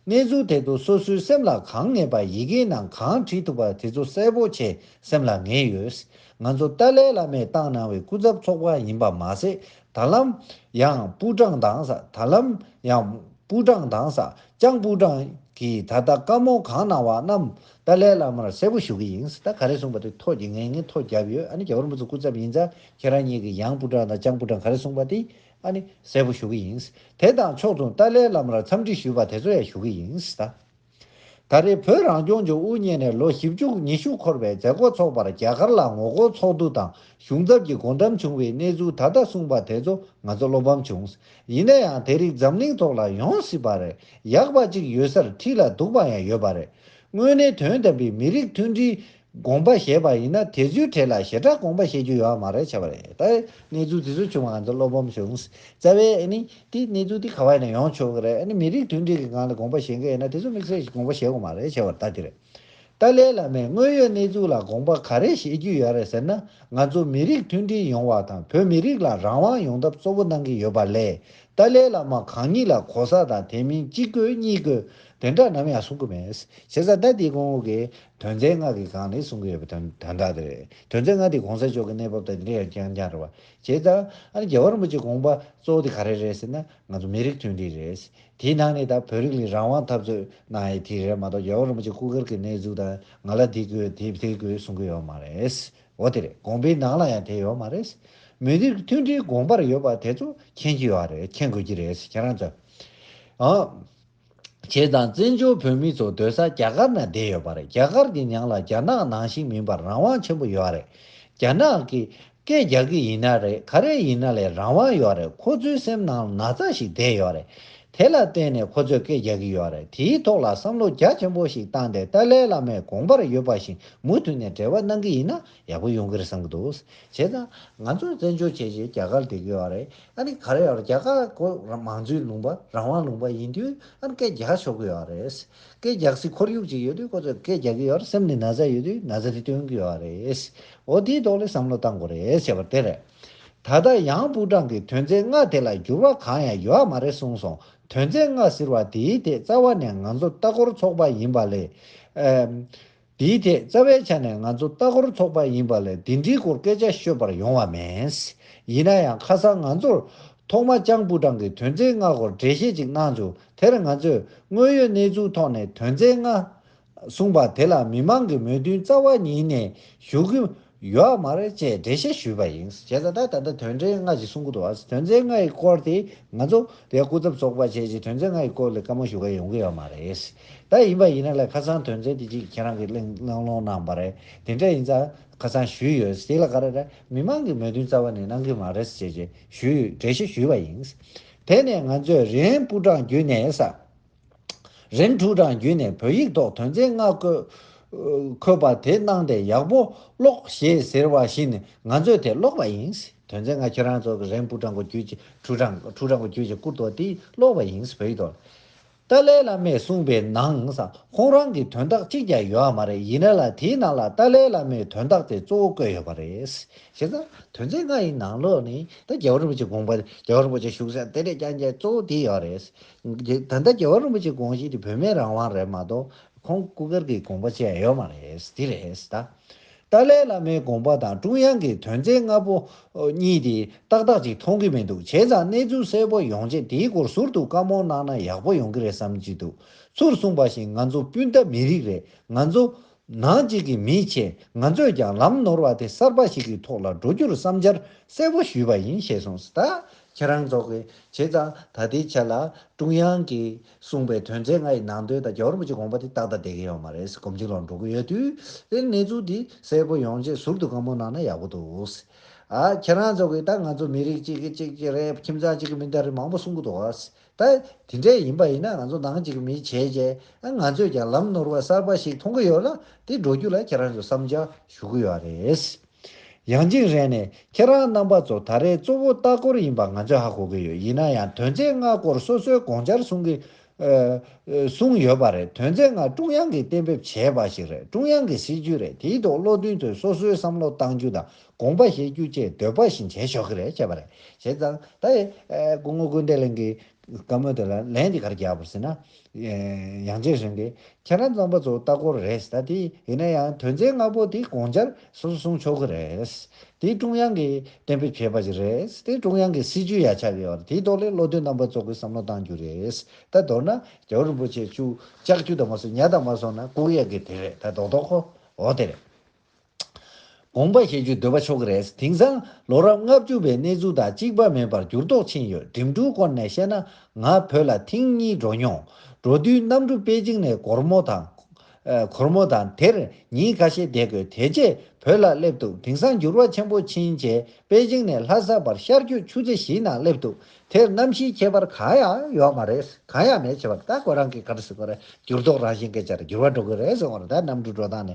བ། གནས་ཚུལ་དེ་ཚོ་སོ་སོའི་སེམས་ལ་གང་ངེས་པ་ཡི་གེའི་ནང་གང་བྲིས་ཐུབ་པ་དེ་ཚོ་གསལ་པོ་ཆེ་སེམས་ལ་ངེས་ཡོད། ང་ཚོ་ཏཱ་ལའི་བླ་མས་བཏང་གནང་བའི་སྐུ་ཚབ་ཚོགས་པ་ཡིན་པ་མ་ཟད་ད་ལམ་ཡང་པུའུ་ཀྲང་དང་ས་ད་ལམ་ཡང་པུའུ་ཀྲང་དང་ས་ཅང་པུའུ་ཀྲང་གིས་ད་ལྟ་བཀའ་མོལ་གང་གནང་བ་རྣམས་ཏཱ་ལའི་བླ་མར་གསལ་པོ་ཞུ་གི་ཡིན་ད་ག་རེ་གསུངས་པ་དེ་ཐོག་གི་ངས་ངན་ཐོག་བརྒྱབ་ཡོད་ཨ་ནི་རྒྱ་གར་འུ་ཚོ་སྐུ་ཚབ་ཡིན་ཚ་ཁྱེད་རང་གཉིས་ཀྱིས་ཡང་པུའུ་ཀྲང་དང་ཅང་པུའུ་ཀྲང་ག་རེ་གསུངས་པ་དེ་ཨ་ནི་གསལ་པོ་ཞུ་གི་ཡིན་དེ་དང་ཕྱོགས་མཚུངས་ཏཱ་ལའི་བླ་མར་འཚམས་འདྲི་ཞུས་པ་དེ་ཚོ་ཡང་ཞུ་གི་ཡིན་ད། ད་རེས་བོད་རང་སྐྱོང་ལྗོངས་དབུ་བརྙེས་ནས་ལོ་བཞི་བཅུ་ཉི་ཤུ་འཁོར་བའི་མཛད་སྒོ་འཚོགས་པར་རྒྱ་གར་ལ་ངོ་རྒོལ་ཚོགས་འདུ་དང་གཞུང་ཚབ་ཀྱི་སྒོ་འགྲམ་བྱུང་བའི་གནས་ཚུལ་ད་ལྟ་གསུངས་པ་དེ་ཚོ་ང་ཚོ་བློ་ཕམ་བྱུང། ཡིན་ན་ཡང་དེ་རིགས་འཛམ་གླིང་ཐོག་ལ་ཡོང་སྲིད་པ་རེད་ཡག་པ་གཅིག་ཡོད་སར་ཁྲིད་ལ་འདུག་པ་ཡང་ཡོད་པ་རེད། དངོས་གནས་དོན་དམ་པའི་མི་རིགས་མཐུན་སྒྲིལ། དགོངས་པ་ཞེས་པ་ཡིན་ན་དེ་ཚོའི་གྲས་ལ་ཞེ་དྲག་དགོངས་པ་བཞེས་རྒྱུ་ཡོད་མ་རེད་བྱ་བ་རེད་ད་གནས་ཚུལ་དེ་ཚོ་བྱུང་བ་ང་ཚོ་བློ་ཕམ་བྱུང་བཙལ་བས་ཨ་ནི་དེ་གནས་ཚུལ་དེ་ག་བ་ཡིན་ན་ཡོང་ཆོག་གི་རེད་ཨ་ནི་མི་རིགས་མཐུན་སྒྲིལ་གི་སྒང་ལ་དགོངས་པ་བཞེས་མཁན་ཡིན་ན་དེ་ཚོ་དམིགས་བསལ་གྱི་དགོངས་པ་བཞེས་དགོས་མ་རེད་བྱ་བ་ད་དེ་རེད་ཏཱ་ལའི་བླ་མས་དངོས་ཡོད་གནས་ཚུལ་ལ་དགོངས་པ་ག་རེ་བཞེས་རྒྱུ་ཡོད་རེད་ཟེར་ན་ང་ཚོ་མི་རིགས་མཐུན་སྒྲིལ་ཡོང་བ་དང་བོད་མི་རིགས་ལ་རང་དབང་ཡོང་ཐབས་གཙོ་བོ་གནང་གི་ཡོད་པ་ལས་ཏཱ་ལའི་བླ་མ་གང་ཉིད་ལ་གོ་ས་དང་དེ་མིན་གཅིག་དགོས་གཉིས་དགོས་དེ་འདྲ་ནམ་ཡང་གསུང་གི་མེད་བྱས་ཙང་ད་དེ་གོང་འོག་གི་དོན་ཚན་ལྔ་གི་སྒང་ནས་གསུང་གི་ཡོད་པ་དོན་དག་དེ་རེད། དོན་ཚན་ལྔ་དེ་གོང་ས་མཆོག་གི་གནས་བབ་དང་འབྲེལ་ཡོད་རྐྱང་རྐྱང་རེད་བ། བྱས་ཙང། ཨ་ནི་རྒྱལ་བ་རིན་པོ་ཆེ་དགོངས་པ་གཙོ་བོ་དེ་ག་རེ་རེད་ཟེར་ན། ང་ཚོ་མི་རིགས་མཐུན་སྒྲིལ་རེད། དེའི་ནང་ནས་ད་བོད་རིགས་ལས་རང་དབང་འཐབ་རྩོད་གནང་ཡས་དེ་རེད་མ་གཏོགས་རྒྱལ་བ་རིན་པོ་ཆེ་སྐུ་སྒེར་གི་གནས་ཚུལ་དང་ང་ལ་དེ་དགོས་དེ་དེ་དགོས་གསུང་གི་ཡོད་མ་རེད། འོ་དེ་རེད་དགོངས་པའི་ནང་ལ་ཡང་དེ་ཡོད་མ་རེད། མི་རིགས་མཐུན་སྒྲིལ་དགོངས་པར་ཡོད་པ་དེ་ཚོ་མཁྱེན་གྱི་ཡོད་རེད་མཁྱེན་དགོས་ཀྱི་རེད་ཁྱེད་རང་ཚོས། བྱེད་དང་བཙན་བྱོལ་བོད་མི་ཚོ་སྡོད་ས་རྒྱ་གར་ན་བསྡད་ཡོད་པ་རེད་རྒྱ་གར་གྱི་ཉང་ལ་རྒྱ་ནག་ནང་བཞིན་མིན་པར་རང་དབང་ཆེན་པོ་ཡོད་རེད་རྒྱ་ནག་གིས་སྐད་རྒྱག་གི་ཡིན་ན་རེད་ག་རེ་ཡིན་ན་ལས་རང་དབང་ཡོད་རེད་ཁོ་ཚོའི་སེམས་ནང་ན་ཚ་ཞིག་བསྡད་ཡོད་རེད་དེ་ལ་བརྟེན་ནས་ཁོ་ཚོས་སྐད་རྒྱག་གི་ཡོད་རེད་དེའི་ཐོག་ལ་བསམ་བློ་རྒྱ་ཆེན་པོ་ཞིག་བཏང་སྟེ་ཏཱ་ལའི་བླ་མའི་དགོངས་པར་ཡོད་པ་བཞིན་མུ་མཐུད་ནས་འབྲེལ་བ་གནང་གི་ཡིན་ན་ཡག་པོ་ཡོང་གི་རེད་བསམ་གྱི་འདུག་བྱེད་དང། ང་ཚོས་བཙན་བྱོལ་བྱས་རྗེས་རྒྱ་གར་བསྡད་ཀྱི་ཡོད་རེད་ཨ་ནི་ག་རེ་ཡོད་རྒྱ་གར་གོ་རང་མང་གཙོའི་ལུང་པ་རང་དབང་ལུང་པ་ཡིན་དུས་ཨ་ནི་སྐད་རྒྱག་ཆོག་གི་ཡོད་རེད། སྐད་རྒྱག་སའི་ཁོར་ཡུག་ཅིག་ཡོད་དུས་ཁོ་ཚོས་སྐད་རྒྱག་གི་ཡོད་སེམས་ནས་ན་ཚ་ཡོད་དུས་ན་ཚ་དེ་སྟོན་གི་ཡོད་རེད། འོ་དེའི་ཐོག་ལས་བསམ་བློ་བཏང་དགོས་རེད་བྱས་པ་དེ་རེད། ད་ལྟ་ཡང་པུའུ་ཀྲང་གིས་དོན་ཚན་ལྔ་དེ་ལ་འགྱུར་བ་གང་ཡང་ཡོད་མ་རེད་གསུངས་སོང་དོན་ཚན་ལྔ་ཟེར་བ་དེའི་ཐད་རྩ་བ་ནས་ང་ཚོ་ལྟ་སྐོར་ཚོགས་པ་ཡིན་པ་ལས། དེའི་ཐད་རྩ་བའི་ཆ་ནས་ང་ཚོ་ལྟ་སྐོར་ཚོགས་པ་ཡིན་པ་ལས་འདི་འདྲིའི་སྐོར་སྐད་ཆ་ཤོད་པར་ཡོང་བ་མེད། ཡིན་ན་ཡང་ཁ་སང་ང་ཚོར་ཐོག་མ་ལྕང་པུ་ཀྲང་གི་དོན་ཚན་ལྔ་སྐོར་འགྲེལ་བཤད་ཅིག་གནང་བྱུང་དེར་ང་ཚོས་དངོས་ཡོད་གནས་ཚུལ་ཐོག་ནས་དོན་ཚན་ལྔ། གསུངས་པ་དེ་ལ་མི་མང་གི་མོས་མཐུན་རྩ་བ་ཉིད་ནས་ཞུ་གི་ཡོད་མ་རེད་ཅེས་འགྲེལ་བཤད་ཞུས་པ་ཡིན། བྱས་ཙང་ད་ལྟ་དོན་ཚན་ལྔ་ཞིག་གསུང་གི་འདུག་ཨ། དོན་ཚན་ལྔའི་སྐོར་དེ་ང་ཚོ་བའི་སྐུ་ཚབ་ཚོགས་པ་བཅས་ཀྱིས་དོན་ཚན་ལྔའི་སྐོར་ལས་བཀའ་མོལ་ཞུ་ག་ཡོང་གི་ཡོད་མ་རེད། ད་ཡིན་པ་ཡིན་ན་ལས་ཁ་སང་དོན་ཚན་དེ་གཅིག་ཁྱེད་རང་གིས་གླེང་གླེང་སློང་གནང་བ་རེད་དེ་འདྲ་ཡིན་ཙང་ཁ་སང་ཞུས་ཡོད་དེ་ལ་ག་རེ་རེད་མི་མང་གི་མོས་མཐུན་རྩ་བ་ནས་གནང་གི་མ་རེད་ཅེས་ཞུས་འགྲེལ་བཤད་ཞུས་པ་ཡིན། དེ་ནས་ང་ཚོས་རེན་པུ་ཀྲང་བརྒྱུད་ནས་ས། རིམ་དྲུག་གྲངས་བརྒྱུད་ནས་བོད་ཡིག་ཐོག་དོན་ཚན་ལྔ་འཁོད་པ་དེ་གནང་སྟེ་ཡག་པོ་ཀློག་ཞེས་ཟེར་བ་བཞིན་ནི་ང་ཚོས་དེ་ཀློག་པ་ཡིན། དོན་ཚན་ལྔ་ཁྱེད་རང་ཚོ་གི་རིམ་དྲུག་གྲངས་བརྒྱུད་ཀྱི་དྲུག་གྲངས་དྲུག་གྲངས་བརྒྱུད་ཀྱི་སྐུར་དོགས་དེ་ཀློག་པ་ཡིན་བོད་ཡིག་ཐོག་ལ། ཏཱ་ལའི་བླ་མས་གསུངས་པའི་ནང་ཁོང་རང་གི་དོན་དག་གཅིག་ཀྱང་ཡོད་མ་རེད་ཡིན་ན་ལ་དེའི་ནང་ལ་ཏཱ་ལའི་བླ་མའི་དོན་དག་དེ་གཙོ་བོ་བཀོད་ཡོད་པ་རེད། ཞེས་དང། དོན་ཚན་ལྔ་ཡི་ནང་ལོགས་ནས་ད་རྒྱལ་བ་རིན་པོ་ཆེ་དགོངས་པ་རྒྱལ་བ་རིན་པོ་ཆེ་བཞུགས་སའི་གཏེར་ལས་ཀྱང་རྒྱལ་གཙོ་བོ་དེ་ཡོད་རེད། ད་ལྟ་རྒྱལ་བ་རིན་པོ་ཆེ་དགོངས་བཞེས་དེ་བོད་མིའི་རང་དབང་རེད་མ་གཏོགས་ཁོང་སྐུ་སྒེར་གྱི་དགོངས་པ་བཅས་ཡོད་མ་རེད་འདི་རེད་ད། ཏཱ་ལའི་བླ་མའི་དགོངས་པ་དང་ཀྲུང་དབྱང་གི་དོན་ཚན་ལྔ་པོ་གཉིས་དེ་ཏག་ཏག་ཅིག་མཐོང་གི་མི་འདུག་བྱས་ཙང་གནས་ཚུལ་གསལ་པོ་ཡོང་ཆེད་དེའི་སྐོར་ཟུར་དུ་བཀའ་མོལ་གནང་ན་ཡག་པོ་ཡོང་གི་རེད་བསམ་གྱི་འདུག་ཚུར་གསུངས་པ་བཞིན་ང་ཚོ་སྤུན་ཟླ་མི་རིགས་རེད་ང་ཚོ་ནག་ཅིག་གི་མིས་བྱས་ང་ཚོས་ཀྱང་ལམ་ནོར་བ་དེ་གསར་པ་ཞིག་གི་ཐོག་ལ་འགྲོ་རྒྱུར་བསམ་འཆར་གསལ་པོ་ཞུས་པ་ཡིན་ཞེས་གསུངས་སྟ། ཁྱེད་རང་ཚོ་གིས་བྱས་ཙང་ད་ལྟའི་ཆ་ལ་ཀྲུང་དབྱང་གིས་གསུངས་པའི་དོན་ཚན་ལྔ་ཡི་ནང་དོན་དང་རྒྱ་རོ་པ་ཅིག་དགོངས་པ་དེ་ཏག་ཏག་བསྡད་ཀྱི་ཡོད་མ་རེད་གོམ་གཅིག་ལ་འགྲོ་གི་ཡོད་དུས་དེར་གནས་ཚུལ་དེ་གསལ་པོ་ཡོང་ཆེད་ཟུར་དུ་གང་མོ་གནང་ན་ཡག་པོ་འདུག་ཨ། ཁྱེད་རང་ཚོ་གིས་ད་ང་ཚོ་མི་རིགས་གཅིག་གི་གཅིག་གི་རེད་ཁྱིམ་ཚང་གཅིག་གི་མི་འདྲ་རེད་མང་པོ་གསུང་གི་འདུག་ཨ། ད་དེ་འདྲས་ཡིན་པ་ཡིན་ན་ང་ཚོ་ནང་གཅིག་མི་བྱས་རྗེས་ང་ཚོས་ཀྱང་ལམ་ནོར་བ་གསར་པ་ཞིག་མཐོང་གི་ཡོད་ལ་དེ་འགྲོ་རྒྱུ་ལ་ཁྱེད་རང་ཚོས་བསམ་འཆར་ཞུ་གི་ཡོད་རེད། ཡང་ཅིག་རེ་ནས་ཁྱེད་རང་རྣམ་པ་ཚོ་ད་རེས་གཙོ་བོ་ལྟ་སྐོར་ཡིན་པ་ང་ཚོས་ཧ་གོ་གི་ཡོད་ཡིན་ན་ཡང་དོན་ཚན་ལྔ་སྐོར་སོ་སོའི་དགོངས་འཆར་གསུང་གི་གསུང་ཡོད་པ་རེད་དོན་ཚན་ལྔ་ཀྲུང་དབྱང་གིས་གཏན་འབེབས་བྱས་པ་ཞིག་རེད་ཀྲུང་དབྱང་གི་སྲིད་ཇུས་རེད་དེའི་ཐོག་བློ་མཐུན་ཚོས་སོ་སོའི་བསམ་བློ་གཏང་རྒྱུ་དང་དགོངས་པ་བཞེས་རྒྱུ་བཅས་འདོད་པ་བཞིན་བྱེད་ཆོག་གི་རེད་བྱས་པ་རེད། བྱས་ཙང་ད་ཡི་སྐུ་ངོ་ཀུན་བདེ་གླིང་གི་བཀའ་མོལ་དེ་ལ་ལན་འདི་གར་རྒྱབ་པར་ཟེར་ན། ཡང་རྗེས་ཟིན་ཏེ་ཁྱེད་རང་ཚང་པ་ཚོ་ལྟ་སྐོར་རེད་ཟེར་ད་དེ་ཡིན་ན་ཡང་དོན་ཚན་ལྔ་པོ་དེ་དགོངས་འཆར་སོ་སོ་གསུང་ཆོག་གི་རེད། དེ་ཀྲུང་དབྱང་གིས་གཏན་འབེབས་བྱས་པ་ཞིག་རེད་དེ་ཀྲུང་དབྱང་གི་སྲིད་ཇུས་ཡ་ཆ་ཡོད་པ་རེད་དེའི་ཐོག་ལས་བློ་མཐུན་རྣམ་པ་ཚོ་གིས་བསམ་བློ་གཏང་རྒྱུ་རེད་ད་མདོར་ན་རྒྱལ་བོ་རིན་པོ་ཆེ་བཅུ་ལྕགས་ཀྱུ་དང་མ་སོང་ཉྭ་དང་མ་སོང་ན་ལྐུགས་ཡག་གི་དེ་རེད་ད་རྡོག་རྡོག་ཁོ་འོ་དེ་རེད། དགོངས་པ་བཞེས་རྒྱུ་འདོད་པ་ཆོག་གི་རེད། དེང་སང་ལོ་རབས་ལྔ་བཅུ་བའི་གནས་ཚུལ་དང་གཅིག་པ་མིན་པར་འགྱུར་ལྡོག་ཕྱིན་ཡོད་འགྲིམ་འགྲུལ་སྐོར་ནས་བཤད་ན་ང་བོད་ལ་ཐེངས་གཉིས་འགྲོ་མྱོང། འགྲོ་དུས་གནམ་གྲུ་པེ་ཅིང་ནས་གོར་མོ་དང། གོར་མོ་དང་དེར་ཉིན་ཁ་ཤས་བསྡད་དགོས་དེ་རྗེས་བོད་ལ་སླེབས་འདུག་དེང་སང་འགྱུར་བ་ཆེན་པོ་ཕྱིན་རྗེས་པེ་ཅིང་ནས་ལྷ་ས་བར་ཤར་རྒྱུད་ཆུ་ཚོད་བཞི་ནང་སླེབས་འདུག་དེར་གནམ་གཤིས་ཁྱད་པར་གང་ཡང་ཡོད་མ་རེད་གང་ཡང་མེད་བྱས་པ་རེད་ད་ཁོ་རང་གིས་ག་རེ་ཟེར་གོ་རེད་འགྱུར་ལྡོག་རང་བཞིན་གྱིས་ཆར་འགྱུར་བ་འགྲོ་གི་རེད་ཟེར་བ་རེད་ད་གནམ་གྲུ་འགྲོ་སྟངས་ནི་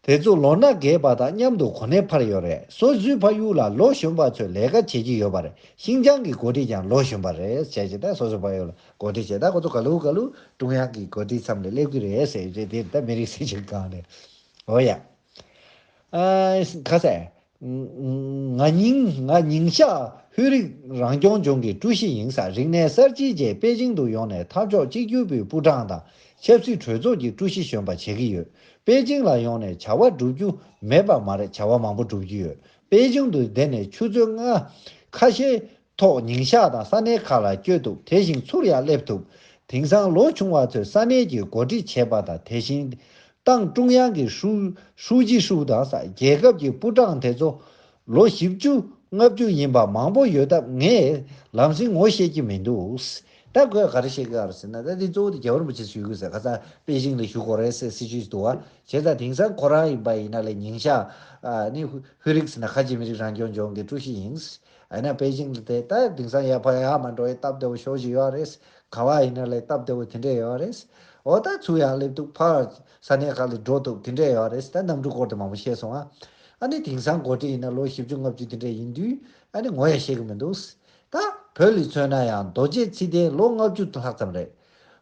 དེ་ཚོ་ལོ་ན་རྒས་པ་དང་མཉམ་དུ་གོ་གནས་འཕར་ཡོད་རེད་སོ་བཟོས་ཕ་ཡུལ་ལ་ལོ་གཞོན་པ་ཚོས་ལས་ཀ་བྱེད་ཀྱི་ཡོད་པ་རེད་ཤིང་ཅང་གི་འགོ་ཁྲིད་ཀྱང་ལོ་གཞོན་པ་རེད་བྱས་ཀྱི་ད་སོ་བཟོས་ཕ་ཡུལ་ལ་འགོ་ཁྲིད་བྱས་ད་ཁོ་ཚོ་ག་ལུག་ག་ལུག་ཀྲུང་དབྱང་གི་འགོ་ཁྲིད་ཚམ་ལས་སླེབས་ཀྱི་རེད་ཟེར་རྗེས་དེ་ད་མི་རིགས་སྲིད་བྱུས་གང་རེད། འོ་ཡ། ཨ། ཁ་ཟས། ང་ཉིང་ཞྭ་ཧུད་རིགས་རང་སྐྱོང་ལྗོངས་ཀྱི་ཀྲུའུ་ཞི་ཡིན་ས་རིག་གནས་གསར་བརྗེའི་རྗེས་པེ་ཅིང་དུ་ཡོང་ནས་འཐབ་ཕྱོགས་གཅིག་གྱུར་པུའི་པུའུ་ཀྲང་དང་ཆབ་སྲིད་གྲོས་ཚོགས་ཀྱི་ཀྲུའུ་ཞི་གཞོན་པ་བྱེད་ཀྱི་ཡོད། པེ་ཅིང་ལ་ཡོང་ནས་བྱ་བ་བསྒྲུབ་རྒྱུ་མེད་པ་མ་རེད་བྱ་བ་མང་པོ་བསྒྲུབ་ཀྱི་ཡོད། པེ་ཅིང་དུ་བསྡད་ནས་ཆུ་ཚོད་ལྔ། ཁ་ཤས། ཐོག་ཉིན་ཞག་དང་ས་གནས་ཁག་ལ་བསྐྱོད་འདུག་དེ་བཞིན་ཚུར་ཡང་སླེབས་ཐུབ། དེང་སང་ལོ་ཆུང་བ་ཚོས་ས་གནས་ཀྱི་འགོ་ཁྲིད་བྱེད་པ་དང་དེ་བཞིན། ཏང་ཀྲུང་དབྱང་གི་ཧྲུའུ་ཅི་ཧྲུའུ་དང་རྒྱལ་ཁབ་ཀྱི་པུའུ་ཀྲང་དེ་ཚོ། ལོ་བཞི་བཅུ་ལྔ་བཅུ་ཡིན་པ་མང་པོ་ཡོད་སྟབས་ངས་ལམ་སེང་ངོ་ཤེས་ཀྱི་མི་འདུག། ད་ཁོས་ག་རེ་བཤད་ཀྱི་ཡོད་ཟེར་ན་ད་དེ་གཙོ་བོ་དེ་རྒྱལ་བ་རིན་པོ་ཆེས་ཞུས་ཀྱི་ཟེར་ཁ་སང་པེ་ཅིང་ལ་བཞུགས་སྒོ་རེད་ཟེར་སྲིད་ཇུས་ཞིག་འདུག་བ་བྱས་ཙང་དེང་སང་ཁོ་རང་ཡིན་པ་ཡིན་ན་ལས་ཉིན་ཞག། ནི་བྷི་རིགས་ནི་ཁ་ཆེ་མི་རིགས་རང་སྐྱོང་ལྗོངས་ཀྱི་ཀྲུའུ་ཞི་ཡིན། ཨ་ན་པེ་ཅིང་ལ་དེ་ལྟ་དིང་སང་ཡ་ཕ་ཡ་མ་འགྲོ་ཡའི་སྟབས་བདེ་བོ་ཞོ་ཞིག་ཡོའ་རེད། ག་བ་ཡིན་ན་ལའི་སྟབས་བདེ་བོ་དེ་འདྲས་ཡོའ་རེད། འོ་ད་ཚུར་ཡང་སླེབས་འདུག་ཕར། ས་གནས་ཁག་ལས་འགྲོ་འདུག་དེ་འདྲས་ཡོའ་རེད་ད་གནམ་གྲུ་སྐོར་དེ་མང་པོ་ཤེས་སོང་ཨ། ཨ་ནི་དིང་སང་འགོ་ཁྲིད་ཡིན་ན་ལོ་བཞི་བཅུ་ལྔ་བཅུ་དེ་འདྲས་ཡིན་དུས་ཨ་ནི་ངོ་ཡ་ཤེས་གི་མི་འདུག། ད། བོད་ལི་མཚོན་ན་ཡང་རྡོ་རྗེ་ཚིག་ལྡན་ལོ་ལྔ་བཅུ་ལྷག་ཙམ་རེད།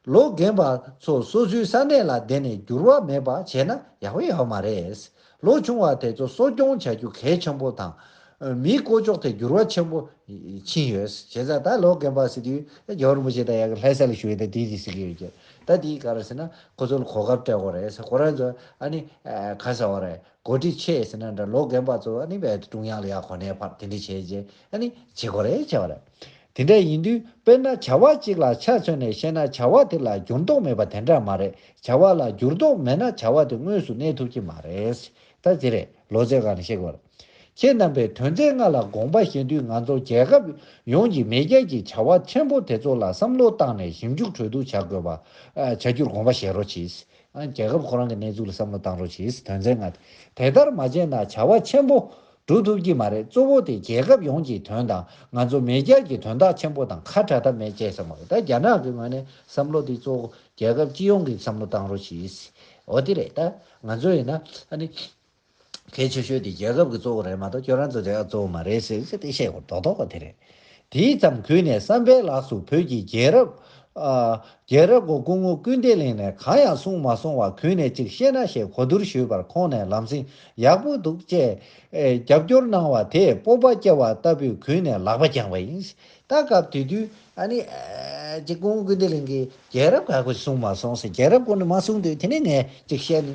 ལོ་རྒན་པ་ཚོ་སོ་སོའི་ས་གནས་ལ་བསྡད་ནས་འགྱུར་བ་མེད་པ་བྱས་ན་ཡག་པོ་ཡོད་མ་རེད། ལོ་ཆུང་བ་དེ་ཚོ་གསོ་སྐྱོང་བྱ་རྒྱུ་གལ་ཆེན་པོ་དང། མིའི་བསྐོ་ཕྱོགས་དེ་འགྱུར་བ་ཆེན་པོ་ཕྱིན་ཡོད། བྱས་ཙང་ད་ལོ་རྒན་པ་ཟེར་དུས་ད་གྱོར་མོ་ཞིག་དང་ཡང་ལྷད་ས་ལ་ཞུགས་ཡོད་ད་དེ་དེ་ཟེར་གྱི་ཡོད་ཀྱི། ད་དེའི་གར་ཟེར་ན་ཁོ་ཚོ་ལ་གོ་སྐབས་སྤྲད་དགོས་རེད། ཁོ་རང་ཚོ་ཨ་ནི་ག་ས་བ་རེད་གོ་སྒྲིག་ཆེད་ཟེར་ན་འདྲ་ལོ་རྒན་པ་ཚོ་ཨ་ནི་བལ་ཏུ་ཀྲུང་དབྱང་ལ་ཡར་གོ་གནས་བར་དེ་འདྲ་བྱས་རྗེས་ཨ་ནི་བྱེད་དགོས་རེད་བྱས་བ་རེད། དེ་འདྲ་ཡིན་དུས་དཔེར་ན་བྱ་བ་གཅིག་ལ་ཆ་མཚོན་ནས་བཤད་ན་བྱ་བ་དེ་ལ་འགྱུར་ལྡོག་མེད་པ་དེ་འདྲ་མ་རེད་བྱ་བ་ལ་འགྱུར་ལྡོག་མེད་ན་བྱ་བ་དེ་དངོས་སུ་གནས་ཐུབ་ཀྱི་མ་རེད། ད་དེ་རེད་ལོ་ཙཱའི་སྒང་ནས་བཤད་དགོས་པ། ཁྱེད་རྣམ་པས་དོན་ཚན་ལྔ་ལ་དགོངས་པ་བཞེས་དུས་ང་ཚོ་རྒྱལ་ཁབ་ཡོངས་ཀྱི་མེས་རྒྱལ་གྱི་བྱ་བ་ཆེན་པོ་དེ་ཚོ་ལ་བསམ་བློ་བཏང་ནས་ཞིབ་འཇུག་གྲོས་བསྡུར་བྱ་དགོས་པ། བྱ་རྒྱུར་དགོངས་པ་བཞེས་རོགས་གྱིས། རྒྱལ་ཁབ་ཁོ་རང་གི་གནས་ཚུལ་ལ་བསམ་བློ་བཏང་རོགས་གྱིས་དོན་ཚན་ལྔ་དེ་དེ་ལྟར་མ་བྱས་ན་བྱ་བ་ཆེན་པོ་སྒྲུབ་ཐུབ་ཀྱི་མ་རེད་གཙོ་བོ་དེ་རྒྱལ་ཁབ་ཡོངས་ཀྱི་དོན་དང་ང་ཚོ་མེས་རྒྱལ་གྱི་དོན་དག་ཆེན་པོ་དང་ཁ་བྲལ་ཐབས་མེད་བྱས་ས་མ་རེད་ད་རྒྱ་ནག་གི་ངོས་ནས་བསམ་བློ་དེ་གཙོ་བོ་རྒྱལ་ཁབ་སྤྱི་ཡོངས་ཀྱི་བསམ་བློ་བཏང་རོགས་ཞེས་འོ་དེ་རེད་ད་ང་ཚོ་ཡིན་ན་ཨ་ནི་གལ་ཆེ་ཤོས་དེ་རྒྱལ་ཁབ་ཀྱི་གཙོ་བོ་རེད་མ་གཏོགས་ཁྱོད་རང་ཚོ་རྒྱལ་ཁབ་གཙོ་བོ་མ་རེད་ཟེར་ཚེ་དེ་བཤད་དགོས་དོག་དོག་པ་དེ་རེད། དེའི་མཚམས་གུས་ནས་བསམ་འཕེལ་ལགས་སུ་བོད་ཀྱི་རྒྱལ་རབས། རྒྱལ་རབས་སྒོ་སྐུ་ངོ་སྐུལ་འདེད་གླེང་ནས་གང་ཡང་གསུངས་མ་སོང་བར་གུས་ནས་ཅིག་བཤད་ན་ཞེས་གོ་བསྡུར་ཞུས་པར་ཁོང་ནས་ལམ་སེང་ཡག་པོ་འདུག་ཅེས་རྒྱབ་སྐྱོར་གནང་བ་དེས་སྤོབས་པ་སྐྱེ་བ་ལྟ་བུས་གུས་ནས་ལག་པ་བརྐྱངས་པ་ཡིན། ད་སྐབས་དེ་དུས། ཨ་ནི། ཅིག་སྐུ་ངོ་སྐུལ་འདེད་གླེང་གིས་རྒྱལ་རབས་ག་གོ་གསུངས་མ་སོང་ཟེར་རྒྱལ་རབས་སྐོར་ནས་མ་གསུངས་དུས་དེ་ནས་ངས་ཅིག་བཤད་ནི་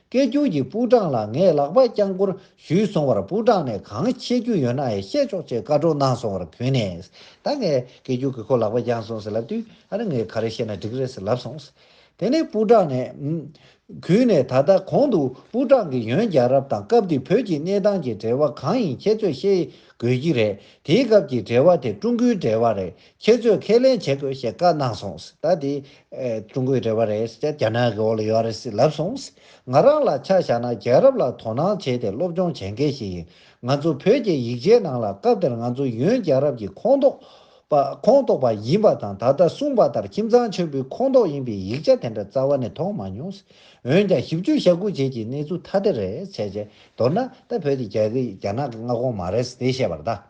སྐད་སྒྱུར་གྱི་པུའུ་ཀྲང་ལ་ངས་ལག་པ་བརྐྱང་བསྐོར་ཞུས་སོང་བར་པུའུ་ཀྲང་ནས་གང་བཤད་རྒྱུ་ཡོད་ན་ཡང་བཤད་ཆོག་ཅེས་བཀའ་སྒྲོག་གནང་སོང་བར་བོས་ནས། ད་ངས་སྐད་སྒྱུར་གྱི་ཁོ་ལག་པ་བརྐྱངས་སོང་ཟེར་ལབ་དུས་ཨ་ར་ངས་ག་རེ་བཤད་ན་འགྲིག་རེད་ཟེར་ལབ་སོང། དེ་ནས་པུའུ་ཀྲང་ནས། གུས་ནས་ད་ལྟ་གོང་དུ་པུའུ་ཀྲང་གིས་ཡོན་རྒྱལ་རབས་དང་སྐབས་དེའི་བོད་ཀྱི་གནས་སྟངས་ཀྱི་འབྲེལ་བ་གང་ཡིན་ཁྱེད་ཚོས་ཤེས་དགོས་ཀྱི་རེད་དེའི་སྐབས་ཀྱི་འབྲེལ་བ་དེ་ཀྲུང་གོའི་འབྲེལ་བ་རེད་ཁྱེད་ཚོས་ཁས་ལེན་བྱེད་དགོས་ཞེས་བཀའ་གནང་སོང་ད་དེ། ཀྲུང་གོའི་རེ་བ་རེད་ཅེས་རྒྱ་ནག་གི་འོག་ལ་ཡོད་རེད་ཟེར་ལབ་སོང། ང་རང་ལ་ཆ་བཞག་ན་རྒྱལ་རབས་ལ་དོ་སྣང་བྱས་ཏེ་སློབ་སྦྱོང་བྱེད་མཁན་ཞིག་ཡིན། ང་ཚོ་བོད་ཀྱི་ཡིག་ཆའི་ནང་ལ་སྐབས་དེར་ང་ཚོ་ཡོན་རྒྱལ་རབས་ཀྱི་ཁོངས་གཏོགས་པ་ཡིན་པ་དང་ད་ལྟ་གསུངས་པ་ལྟར་ཁྱིམ་ཚང་ཆེན་པོའི་ཁོངས་གཏོགས་ཡིན་པའི་ཡིག་ཆ་དེ་འདྲ་རྩ་བ་ནས་མཐོང་མ་མྱོང། འོན་ཀྱང་ཞིབ་འཇུག་ཤ་ཁུག་བྱེད་ཀྱི་གནས་ཚུལ་ཐ་དད་རེད། མདོར་ན་ད་བོད་དེ་རྒྱ་ནག་གི་མངའ་ཁོངས་མ་རེད་དེ་བཤད་པར་གདའ།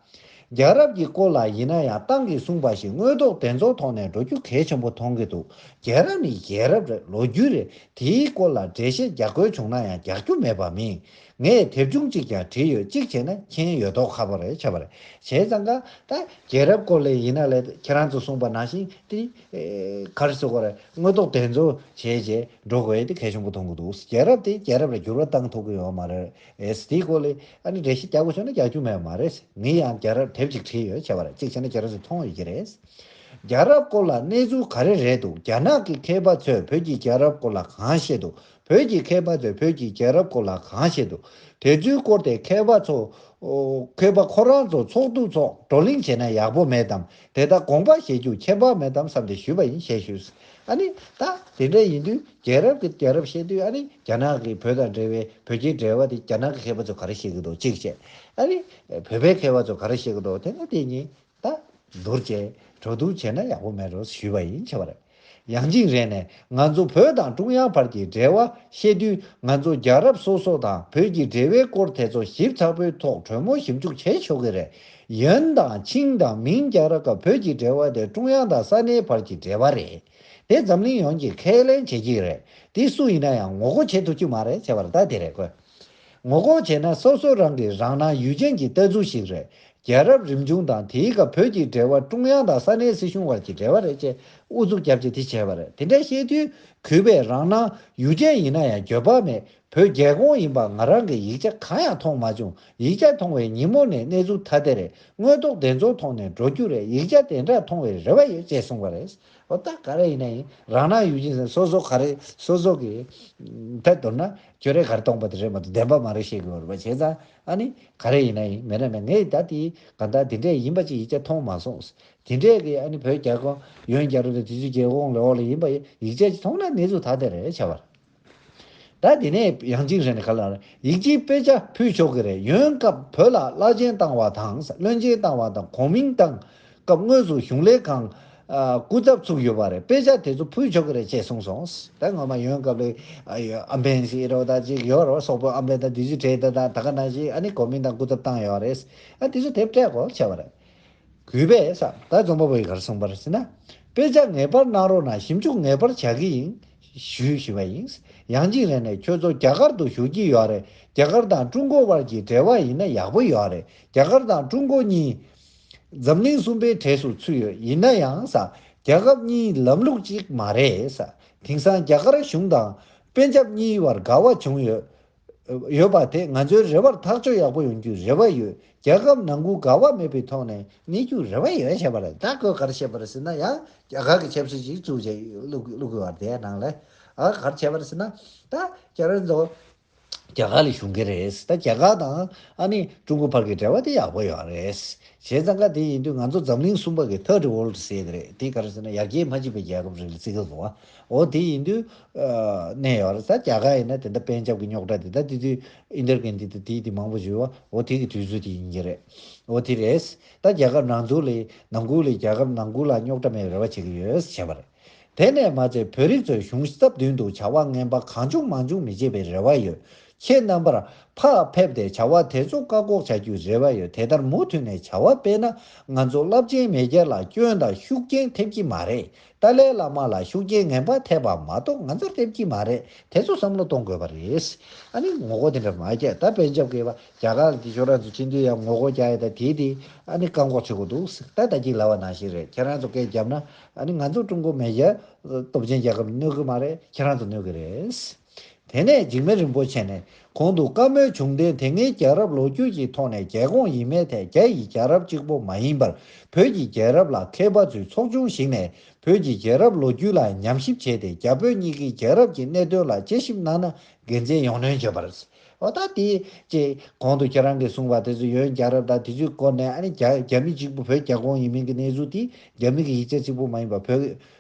རྒྱལ་རབས་ཀྱི་སྐོར་ལ་ཡིན་ན་ཡང་ཏང་གིས་གསུངས་པ་བཞིན་དངོས་ཐོག་བདེན་རྫོང་ཐོག་ནས་འགྲོ་རྒྱུ་གལ་ཆེན་པོ་མཐོང་གི་འདུག་རྒྱལ་རབས་ནི་རྒྱལ་རབས་རེད་ལོ་རྒྱུས་རེད་དེའི་སྐོར་ལ་འགྲེལ་བཤད་རྒྱག་དགོས་བྱུང་ན་ཡང་རྒྱག་རྒྱུ་མེད་པ་མིན། ངས་དེབ་ཆུང་གཅིག་ཀྱང་བྲིས་ཡོད་གཅིག་བྱས་ན་མཁྱེན་ཡོད་དོ་ཁ་པོ་རེད་ཆ་པོ་རེད་བྱས་ཙང་ཀ་ད་རྒྱལ་རབས་སྐོར་ལས་ཡིན་ན་ལས་ཁྱེད་རང་ཚོ་གསུངས་པ་ནང་བཞིན་ཏི་ག་རི་སི་ག་རེ་དངོས་ཐོག་བདེན་རྫོང་བྱས་བྱས་འགྲོ་དགོས་དེ་གལ་ཆེན་པོ་མཐོང་གི་འདུག་རྒྱལ་རབས་དེ་རྒྱལ་རབས་ལ་འགྱུར་བ་བཏང་ཐུབ་ཀྱི་ཡོད་མ་རེད་ཨེས་དེའི་སྐོར་ལས་ཨ་ནི་འགྲེལ་བཤད་རྒྱག་དགོས་བྱུང་ན་རྒྱག་རྒྱུ་མེད་པ་མ་རེད། ངས་ཡང་རྒྱལ་རབས་དེབ་ཅིག་བྲིས་ཡོད་བྱས་པ་རེད་གཅིག་བྱས་ན་རྒྱལ་རབས་ཚོས་མཐོང་ཡོད་ཀྱི་རེད། རྒྱལ་རབས་སྐོར་ལ་གནས་ཚུལ་ག་རེ་རེད་འདུག་རྒྱ་ནག་གི་མཁས་པ་ཚོས་བོད་ཀྱི་རྒྱལ་རབས་སྐོར་ལ་གང་བཤད་འདུག་བོད་ཀྱི་མཁས་པ་ཚོས་བོད་ཀྱི་རྒྱལ་རབས་སྐོར་ལ་གང་བཤད་འདུག་དེ་ཚོའི་སྐོར་དེ་མཁས་པ་ཚོ། མཁས་པ་ཁོ་རང་ཚོ་ཚོགས་འདུ་འཚོགས་བགྲོ་གླེང་བྱས་ན་ཡག་པོ་མེད་དམ་དེ་ལྟར་དགོངས་པ་བཞེས་རྒྱུ་ཁྱད་པར་མེད་དམ་བསམ་སྟེ་ཞུས་པ་ཡིན་ཞེས་ཞུས། ཨ་ནི་ད་དེ་འདྲ་ཡིན་དུས་རྒྱལ་རབས་ཀྱི་དེང་རབས་ཤེས་དུས་ཨ་ནི་རྒྱ་ནག་གིས་བོད་དང་འབྲེལ་བའི་བོད་ཀྱི་འབྲེལ་བ་དེ་རྒྱ་ནག་གི་མཁས་པ་ཚོས་ག་རེ་བཤད་གི་འདུག་གཅིག་བཤད། ཨ་ནི་བོད་པའི་མཁས་པ་ཚོས་ག་རེ་བཤད་གི་འདུག་དེ་ལ་དེ་གཉིས་ད་བསྡུར་བྱས་གྲོས་བསྡུར་བྱས་ན་ཡག་པོ་མེད་རོགས་ཞུས་པ་ཡིན་ཁྱེད་པར་ཡང་གཅིག་རེ་ནས་ང་ཚོ་བོད་དང་ཀྲུང་དབྱང་བར་གྱི་འབྲེལ་བ་བཤད་དུས་ང་ཚོ་རྒྱལ་རབས་སོ་སོ་དང་བོད་ཀྱི་འབྲེལ་བའི་སྐོར་དེ་ཚོ་ཞིབ་ཚགས་པོའི་ཐོག་གྲོས་མོལ་ཞིབ་འཇུག་བྱས་ཆོག་གི་རེད། ཡོན་དང་ཆིང་དང་མིང་རྒྱ་ར་ཀ་བོད་ཀྱི་འབྲེལ་བ་དེ་ཀྲུང་དབྱང་དང་ས་གནས་བར་གྱི་འབྲེལ་བ་རེད། དེ་འཛམ་གླིང་ཡོངས་ཀྱིས་ཁས་ལེན་བྱེད་ཀྱི་རེད། དེ་སུ་ཡིན་ན་ཡང་ངོ་རྒོལ་བྱེད་ཐུབ་ཀྱི་མ་རེད་ཟེར་བར་ད་དེ་རེད་དགོས། ངོ་རྒོལ་བྱེད་ན་སོ་སོ་རང་གིས་རང་སྣང་ཡུལ་ཅན་གྱི་ལྟ་ཚུལ་ཞིག་རེད། རྒྱལ་རབས་རིམ་བྱུང་དང་དེའི་སྐབས་བོད་ཀྱི་འབྲེལ་བ་ཀྲུང་དབྱང་དང་ས་གནས་སྲིད་གཞུང་བར་གྱི་འབྲེལ་བ་རེད་ཅེས་ཨུ་ཚུགས་རྒྱབ་ཀྱིས་དེ་བྱས་པ་རེད་དེ་འདྲ་བཤད་དུས་གུས་པས་རང་སྣང་ཡུལ་ཅན་ཡིན་ན་ཡང་འགྱོད་པ་མེད་བོད་རྒྱལ་ཁོངས་ཡིན་པ་ང་རང་གིས་ཡིག་ཆ་གང་ཡང་མཐོང་མ་བྱུང་ཡིག་ཆ་མཐོང་བའི་ཉིན་མོ་ནས་གནས་ཚུལ་ཐ་དད་རེད་དངོས་ཐོག་བདེན་རྫུན་མཐོང་ནས་འགྲོ་རྒྱུ་རེད་ཡིག་ཆ་དེ་འདྲ་མཐོང་བའི་རེ་བ་ཡོད་ཅེས་གསུངས་པ་རེད། འོ་ད་ག་རེ་ཡིན་ན་ཡིན་རང་སྣང་ཡུལ་ཅན་སོ་སོ་ག་རེ་སོ་སོ་གི་ཐད་དོར་ན་ཁྱོད་རེ་ག་རེ་སྟོང་པ་དེ་རེད་མ་གཏོགས་བདེན་པ་མ་རེད་བཤད་དགོས་བར་བ་བྱས་ཙང་ཨ་ནི་ག་རེ་ཡིན་ན་ཡིན་མེད་ན་མེད་ངས་ད་ལྟའི་གང་ལྟར་དེ་འདྲས་ཡིན་པ་ཅིག་ཡིག་ཆ་མཐོང་མ་སོང་དེ་འདྲས་ཀྱི་ཨ་ནི་བོད་རྒྱལ་ཁོངས་ཡོན་རྒྱལ་རོ་དེ་དུས་ཚོད་རྒྱལ་ཁོངས་ལས་འོག་ལ་ཡིན་པ་ཡིག་ཆ་ཅིག་མཐོང་ན་གནས་ཚུལ་ཐ་དད་རེད་བྱ་བར། ད་དེ་ནས་ཡང་ཅིང་ཧྲན་གྷ་ལར་ཡིག་གཅིག་དཔེ་ཆ་ཕུལ་ཆོག་གི་རེད་ཡོན་སྐབས་བོད་ལ་བླ་ཆེན་བཏང་བ་དང་བློན་ཆེན་བཏང་བ་དང་གོང་མིང་བཏང་སྐབས་དངོས་སུ་གཞུང་ལས་ཁང་སྐུ་ཚབ་ཚུགས་ཡོད་པ་རེད་དཔེ་ཆ་དེ་ཚོ་ཕུལ་ཆོག་གི་རེད་ཅེས་གསུངས་སོང་ད་སྔོན་མ་ཡོན་སྐབས་ལས་ཨམ་བན་སི་རོ་དང་ཅིག་ཡོད་རོ་སོག་པོ་ཨམ་བན་དང་དུས་ཚོད་དྲེད་དང་ད་ག་ནང་བཞིན་ཨ་ནི་གོང་མིང་དང་སྐུ་ཚབ་བཏང་ཡོད་རེད་ཨ་དེ་ཚོ་དེབ་ཕྲད་གོ་ཆེ་བ་རེད་གུས་པས་ས་བདག་རྫོང་པ་པོའི་གར་སོང་པར་ཟིན་ན། དཔེ་ཆ་ངེས་པར་གནང་རོགས་གནང་ཞིབ་འཇུག་ངེས་པར་བྱ་གི་ཡིན། ཞུ་ཞུ་བ་ཡིན། ཡང་གཅིག་རེ་ནས་ཁྱོད་ཚོ་རྒྱ་གར་དུ་བཞུགས་ཀྱི་ཡོད་རེད་རྒྱ་གར་དང་ཀྲུང་གོ་དབར་གྱི་འབྲེལ་བ་ཡིན་ན་ཡག་པོ་ཡོད་རེད་རྒྱ་གར་དང་ཀྲུང་གོ་གཉིས། འཛམ་གླིང་གསུམ་པའི་གྲས་སུ་ཚུད་ཡོད་ཡིན་ན་ཡང་ས་རྒྱ་ཁབ་གཉིས་ལམ་ལུགས་གཅིག་མ་རེད་ས་དེང་སང་རྒྱ་གར་གཞུང་དང་པན་ཇབ་གཉིས་བར་དགའ་བ་བྱུང་ཡོད། ཡོད་པ་དེ་ང་ཚོའི་རེ་བར་ཐག་གཅོད་ཡག་པོ་ཡོང་རྒྱུའི་རེ་བ་ཡོད། རྒྱལ་ཁབ་ནང་ཁུལ་དགའ་བ་མེད་པའི་ཐོག་ནས་གནས་རྒྱུའི་རེ་བ་ཡོད་བྱས་པ་རེད་ད་བཀོད་གར་བྱས་པར་ཟེར་ན་ཡང་རྒྱ་གར་གྱི་ཆབ་སྲིད་ཅིག་བཙུགས་བྱས་བླུགས་དགོས་བར་དེའི་ནང་ལ་གར་བྱས་པར་ཟེར་ན་ད་རྒྱ་ར་ཚོ་རྒྱ་གར་ལ་ཞུགས་ཀྱི་རེད་ད་རྒྱ་གར་དང་ཨ་ནི་ཀྲུང་གོ་བར་གྱི་འབྲེལ་བ་དེ་ཡག་པོ་ཡོད་རེད་བྱས་ཙང་ཀ་དེ་ཡིན་དུས་ང་ཚོ་འཛམ་གླིང་གསུམ་པ་གི Third World State རེད་དེ་གར་ཟེར་ན་ཡར་རྒྱས་མ་བྱས་པའི་རྒྱལ་ཁབ་རེད་ལ་བརྩི་གི་དགོས་བ་འོ་དེ་ཡིན་དུས། གནས་ཡོད་རེད་ས་རྒྱ་གར་ཡིན་ན་དེ་འདྲ་པན་ཇབ་ཀྱི་རྙོག་དྲ་དེ་དག་དེ་དུས་ཨིན་དར་གྷན་དྷི་དང་དེའི་དེ་མང་པོ་བཞུར་བ་འོ་དེ་གི་དུས་ཚོད་དེ་ཡིན་གྱི་རེད། འོ་དེ་རེད། ད་རྒྱ་གར་ནང་འཛུགས་ལས་ནང་འགུགས་ལས་རྒྱ་གར་ནང་འགུགས་ལ་རྙོག་དྲ་མེད་པའི་རེ་བ་བྱེད་ཀྱི་ཡོད་བྱས་པ་རེད། དེ་ནས་མ་ཚད་བོད་རིགས་ཚོས་གཞུང་སྟབས་བསྟུན་དུ་བྱ་བ་ངན་པ་གང་བྱུང་མང་བྱུང་མི་བྱེད་པའི་རེ་བ་ཡོད། ཁྱེད་རྣམ་པར་ཕར་ཕེབས་ཏེ་བྱ་བ་དེ་ཚོ་བཀག་འགོག་བྱ་རྒྱུའི་རེ་བ་ཡོད་དེ་ལྟར་མུ་མཐུད་ནས་བྱ་བ་སྤེལ་ན་ང་ཚོ་རླབས་ཆེན་མེས་རྒྱལ་ལ་སྐྱོན་དང་ཤུགས་རྐྱེན་ཐེབས་ཀྱི་མ་རེད་ཏཱ་ལའི་བླ་མ་ལ་ཤུགས་རྐྱེན་ངན་པ་ཐེབས་པ་མ་གཏོགས་ང་ཚོར་ཐེབས་ཀྱི་མ་རེད་དེ་ཚོ་བསམ་བློ་གཏོང་དགོས་པ་རེད། ཨ་ནི་ངོ་རྒོལ་དེ་འདྲ་མ་རྒྱག་ད་བན་རྒྱབ་ཀྱི་བ་རྒྱ་གར་གྱི་ཕྱོགས་རང་ཚོ་སྤྱི་མཐུས་ཡང་ངོ་རྒོལ་རྒྱག་ཡོད་ད་དེ་དེ་ཨ་ནི་བཀག་འགོག་བྱེད་དགོས་འདུག་ཟེར་ད་ད་གྱི་ལ་བ་ནང་བཞིན་རེད་ཁྱེད་རང་ཚོ་སྐད་རྒྱབ་ན་ཨ་ནི་ང་ཚོ་ཀྲུང་གོ་མེ་རྒྱལ་སྟོབས་ཆེན་རྒྱལ་ཁབ་གནོད་གི་མ་རེད་ཁྱེད་རང་ཚོ་གནོད་གི་རེད། དེ་ནས་འཇིགས་མེད་རིན་པོ་ཆེ་ནས་གོང་དུ་བཀའ་མོལ་བྱུང་དོན་དེ་སྔའི་རྒྱལ་རབས་ལོ་རྒྱུས་ཀྱི་ཐོག་ནས་རྒྱལ་ཁོངས་ཡིན་མེད་ཐད་རྒྱ་ཡི་རྒྱལ་རབས་གཅིག་པོ་མ་ཡིན་པར་བོད་ཀྱི་རྒྱལ་རབས་ལ་མཁས་པ་ཚོའི་ཚོགས་ཆུང་ཞིག་ནས་བོད་ཀྱི་རྒྱལ་རབས་ལོ་རྒྱུས་ལ་ཉམས་ཞིབ་བྱས་ཏེ་རྒྱ་བོད་གཉིས་ཀའི་རྒྱལ་རབས་ཀྱི་གནད་དོན་ལ་དཔྱད་ཞིབ་གནང་ན་དགེ་མཚན་ཡོང་སྣོན་བྱེད་པར་བྱེད་འོ་ད་དེ་ཅེས་གོང་དུ་ཁྱེད་རང་གིས་གསུངས་པ་དེ་ཚོ་ཡོན་རྒྱལ་རབས་དང་དེ་ཚོའི་སྐོར་ནས་ཨ་ནི་རྒྱ་རྒྱ་མི་གཅིག་པོ་བོད་རྒྱ་ཁོངས་ཡིན་མིན་གྱི་གནས་ཚུལ་དེ་རྒྱ་མི་གི་ཡིག་ཆ་གཅིག་པོ་མ་ཡིན་པར་བོད་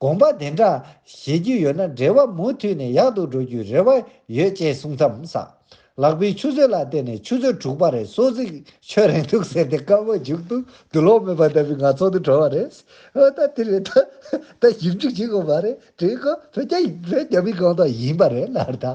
དགོངས་པ་དེ་འདྲ་བཞེས་རྒྱུ་ཡོད་ན་འབྲེལ་བ་མུ་མཐུད་ནས་ཡག་ཏུ་འགྲོ་རྒྱུའི་རེ་བ་ཡོད་ཅེས་གསུངས་མཚམས། ལག་པའི་ཆུ་ཚོད་ལ་བལྟས་ནས་ཆུ་ཚོད་དྲུག་པ་རེད་སོ་གཟིག་ཁྱོད་རེད་འདུག་ཟེར་ཏེ་སྐར་མ་མཇུག་ཏུ་དུ་ལོག་མེད་པ་ལྟ་བུའི་ངང་ཚོགས་འདུ་གྲོལ་བ་རེད། ཨོ་ད་དེ་རེད་ད། ད་ཞིབ་འཇུག་བྱེད་དགོས་པ་རེད་དྲན་གོ། བོད་རྒྱ་བོད་རྒྱ་མི་གང་དག་ཡིན་པ་རེད་ལར་ད་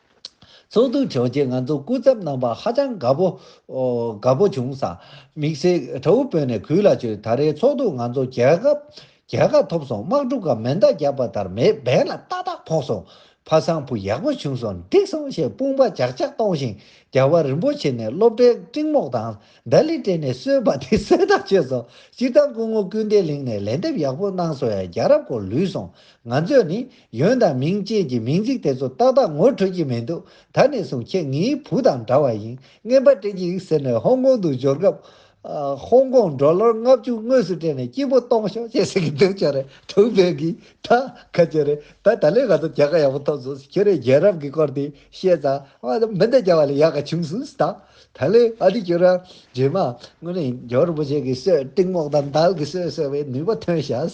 ཚོགས་འདུ་འཚོགས་རྗེས་ང་ཚོ་སྐུ་ཚབ་རྣམ་པ་ཧ་ཅང་དགའ་པོ། དགའ་པོ་བྱུང། དམིགས་བསལ་ཁྲ་བོ་བོད་ནས་གུས་ལ་བྱོས་ད་རེའི་ཚོགས་འདུ་ང་ཚོ་རྒྱལ་ཁ། རྒྱལ་ཁ་ཐོབ་སོང་དམག་འཁྲུག་ག་མེ་མདའ་རྒྱག་པ་ལྟར་མེ་འབེན་ལ་ཏག་ཏག་ཕོག་སོང། ཕ་བཟང་བུ་ཡག་པོ་བྱུང་སོང་འགྲིག་སོང་ཞེས་དཔུང་པ་ཇག་ཇག་གཏོང་བཞིན་རྒྱལ་བ་རིན་པོ་ཆེ་ནས་སློབ་གྲྭའི་སྤྲིང་རྨོག་དང་ཟླ་ལི་སྤྲད་ནས་གསོལ་བ་དེ་གསོལ་དང་བྱོས་སོ། སྤྱིར་བཏང་སྐུ་ངོ་ཀུན་བདེ་གླིང་ནས་ལན་འདེབས་ཡག་པོ་གནང་སོང་ཡ་རྒྱལ་རབས་སྐོར་ལུས་སོང་ང་ཚོས་ནི་ཡོན་དང་མིང་བཅས་ཀྱི་མིང་ཚིག་དེ་ཚོ་ཏག་ཏག་ངོ་འཕྲོད་ཀྱི་མི་འདུག་ད་ནས་བཟུང་ཁྱེད་ངའི་བུ་དང་འདྲ་བ་ཡིན་རྔན་པ་སྤྲད་ཅིག་ཟེར་ནས་ཧོང་ཀོང་དུ་འབྱོར་སྐབས། ཧོང་ཀོང་འགྲོ་ལོར་ལྔ་བཅུ་དངོས་སུ་སྤྲད་ནས་སྐྱིད་པོ་གཏོང་ཤོག་ཅེས་ཟེར་གྱི་འདུག་ཅོ་རེ་དྲུག་བོད་ཀྱི་ད་ག་ཅོ་རེ་ད་ད་ལས་ག་ཚོད་རྒྱལ་ཁ་ཡག་པོ་ཐོབ་སོང་ཟེར་ཁྱོད་རས་རྒྱལ་རབས་ཀྱི་སྐོར་དེ་བཤད་ཙང་མི་འདི་རྒྱལ་བ་ལས་ཡག་ག་བྱུང་སོང་ཟེར་དང་ད་ལས་ཨ་ཏི་ཁྱོད་རང་རྗེས་མ་དངོས་གནས་ཇོ་རིན་པོ་ཆེ་གི་གསོས་སྤྲིང་རྨོག་དང་འདལ་གི་གསོས་ཟེར་བའི་ནུས་པ་ཐོན་ཤག།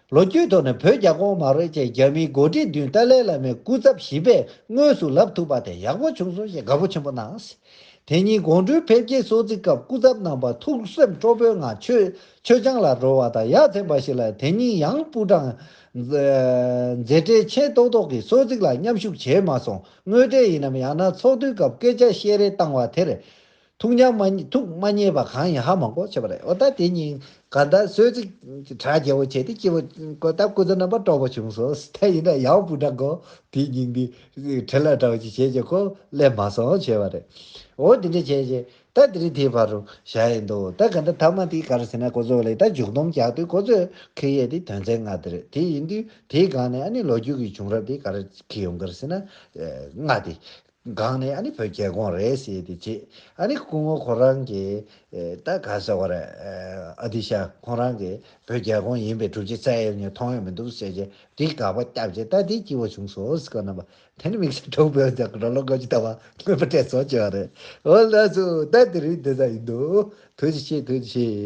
ལོ་རྒྱུས་ཐོག་ནས་བོད་རྒྱ་གོང་མ་རོལ་བཅས་རྒྱ་མིའི་འགོ་ཁྲིད་མདུན་ཏཱ་ལའི་བླ་མའི་སྐུ་ཚབ་བཞི་པས་དངོས་སུ་ལབ་ཐུབ་པ་དེ་ཡག་པོ་བྱུང་སོང་ཞེས་དགའ་པོ་ཆེན་པོ་གནང། དེ་ཉིན་དགོང་དྲོའི་ཕེབས་སྐྱེལ་གསོལ་ཚིགས་སྐབས་སྐུ་ཚབ་རྣམ་པ་ཐུགས་སེམས་སྤྲོ་པོའི་ངང་མཆོད་ཆང་ལ་བྲོ་བ་དང་ཡ་མཚན་པ་ཞིག་ལ་དེ་ཉིན་ཡང་པུའུ་ཀྲང། མཛད་བྲེལ་ཆེན་རྟོག་རྟོག་གིས་གསོལ་ཚིགས་ལ་མཉམ་ཞུགས་བྱས་མ་སོང་དངོས་འབྲེལ་ཡིན་ནམ་ཡང་ན་ཚོགས་འདུའི་སྐབས་སྐད་ཆ་བཤད་རེས་བཏང་བ་དེར། ཐུགས་མཉམ་མ། ཐུགས་མ་མཉེས་པ་གང་ཡིན་ཧ་མང་པོ་བྱེད་པ་རེད་འོ་ད་དེ་གཉིས་ཀ་ད་གསོལ་ཚིགས་གྲ་རྒྱས་པོ་བྱས་ཏེ་སྐྱིད་པོ་གོ་ད་སྐུ་ཚེ་རྣམ་པར་སྤྲོ་པོ་བྱུང་སོ་ཐལ་ཡིན་ན་ཡང་སྤུ་འདྲ་གོ་དེའི་སྙིང་འདི་དྲི་ལ་དྲ་བ་ཅིག་བྱས་ཀྱི་གོ་སླད་མ་སོང་བྱས་པ་རེད་འོ་དེ་འདྲ་བྱས་རྗེས་ད་དེ་རིང་དེའི་བར་རུ་བཞག་ཡས་འདུག་ད་ག་འདྲ་ཐ་མ་དེ་གར་ཟེར་ན་གོ་ཚོད་ལེགས་ད་མཇུག་སྡོམ་རྒྱག་དུས་གོ་ཚོད་ཁེ་ཡས་དེ་དོན་ཚན་ལྔ་དེ་རེད་དེ་ཡིན་དུས་དེའི་སྒང་ནས་ཨ་ནི་ལོ་རྒྱུས་ཀྱི་བྱུང་རབས་དེ་ག་རེ་ཁེ་ཡོང་གི་རེད་ཟེར་ན། ལྔ་དེ། སྒང་ནས་ཨ་ནི་བོད་རྒྱལ་ཁོངས་རེད་ཟེར་ཏེ་བརྗེད་ཨ་ནི་སྐུ་ངོ་ཁོ་རང་གི་ད་ག་ཟེར་བ་རེད་ཨ་ཏི་ཤ་ཁོང་རང་གི་བོད་རྒྱལ་ཁོངས་ཡིན་པའི་གྲུབ་ཆ་ཙལ་ཡོད་ངས་མཐོང་ཡོད་མི་འདུག་ཟེར་རྗེས་དེའི་དགག་པ་བརྒྱབ་རྗེས་ད་དེའི་སྐྱིད་བོ་བྱུང་སོ་ཟེར་གོ་རྣམ་པ་དེ་ནི་དམིགས་བསལ་གྲོགས་པོའི་རྒྱབ་ཀྱི་རོ་ལོ་དགོད་ཀྱི་ལྟ་བ་མངོན་པ་སྤྲད་སོང་ཅེས་པ་རེད་ཨོ་ལགས་སུ་ད་དེ་རིང་དེ་ཙམ་ཡིན་འདུག་དོན་ཅི་ཤེས་དོན་ཅི་ཤེས།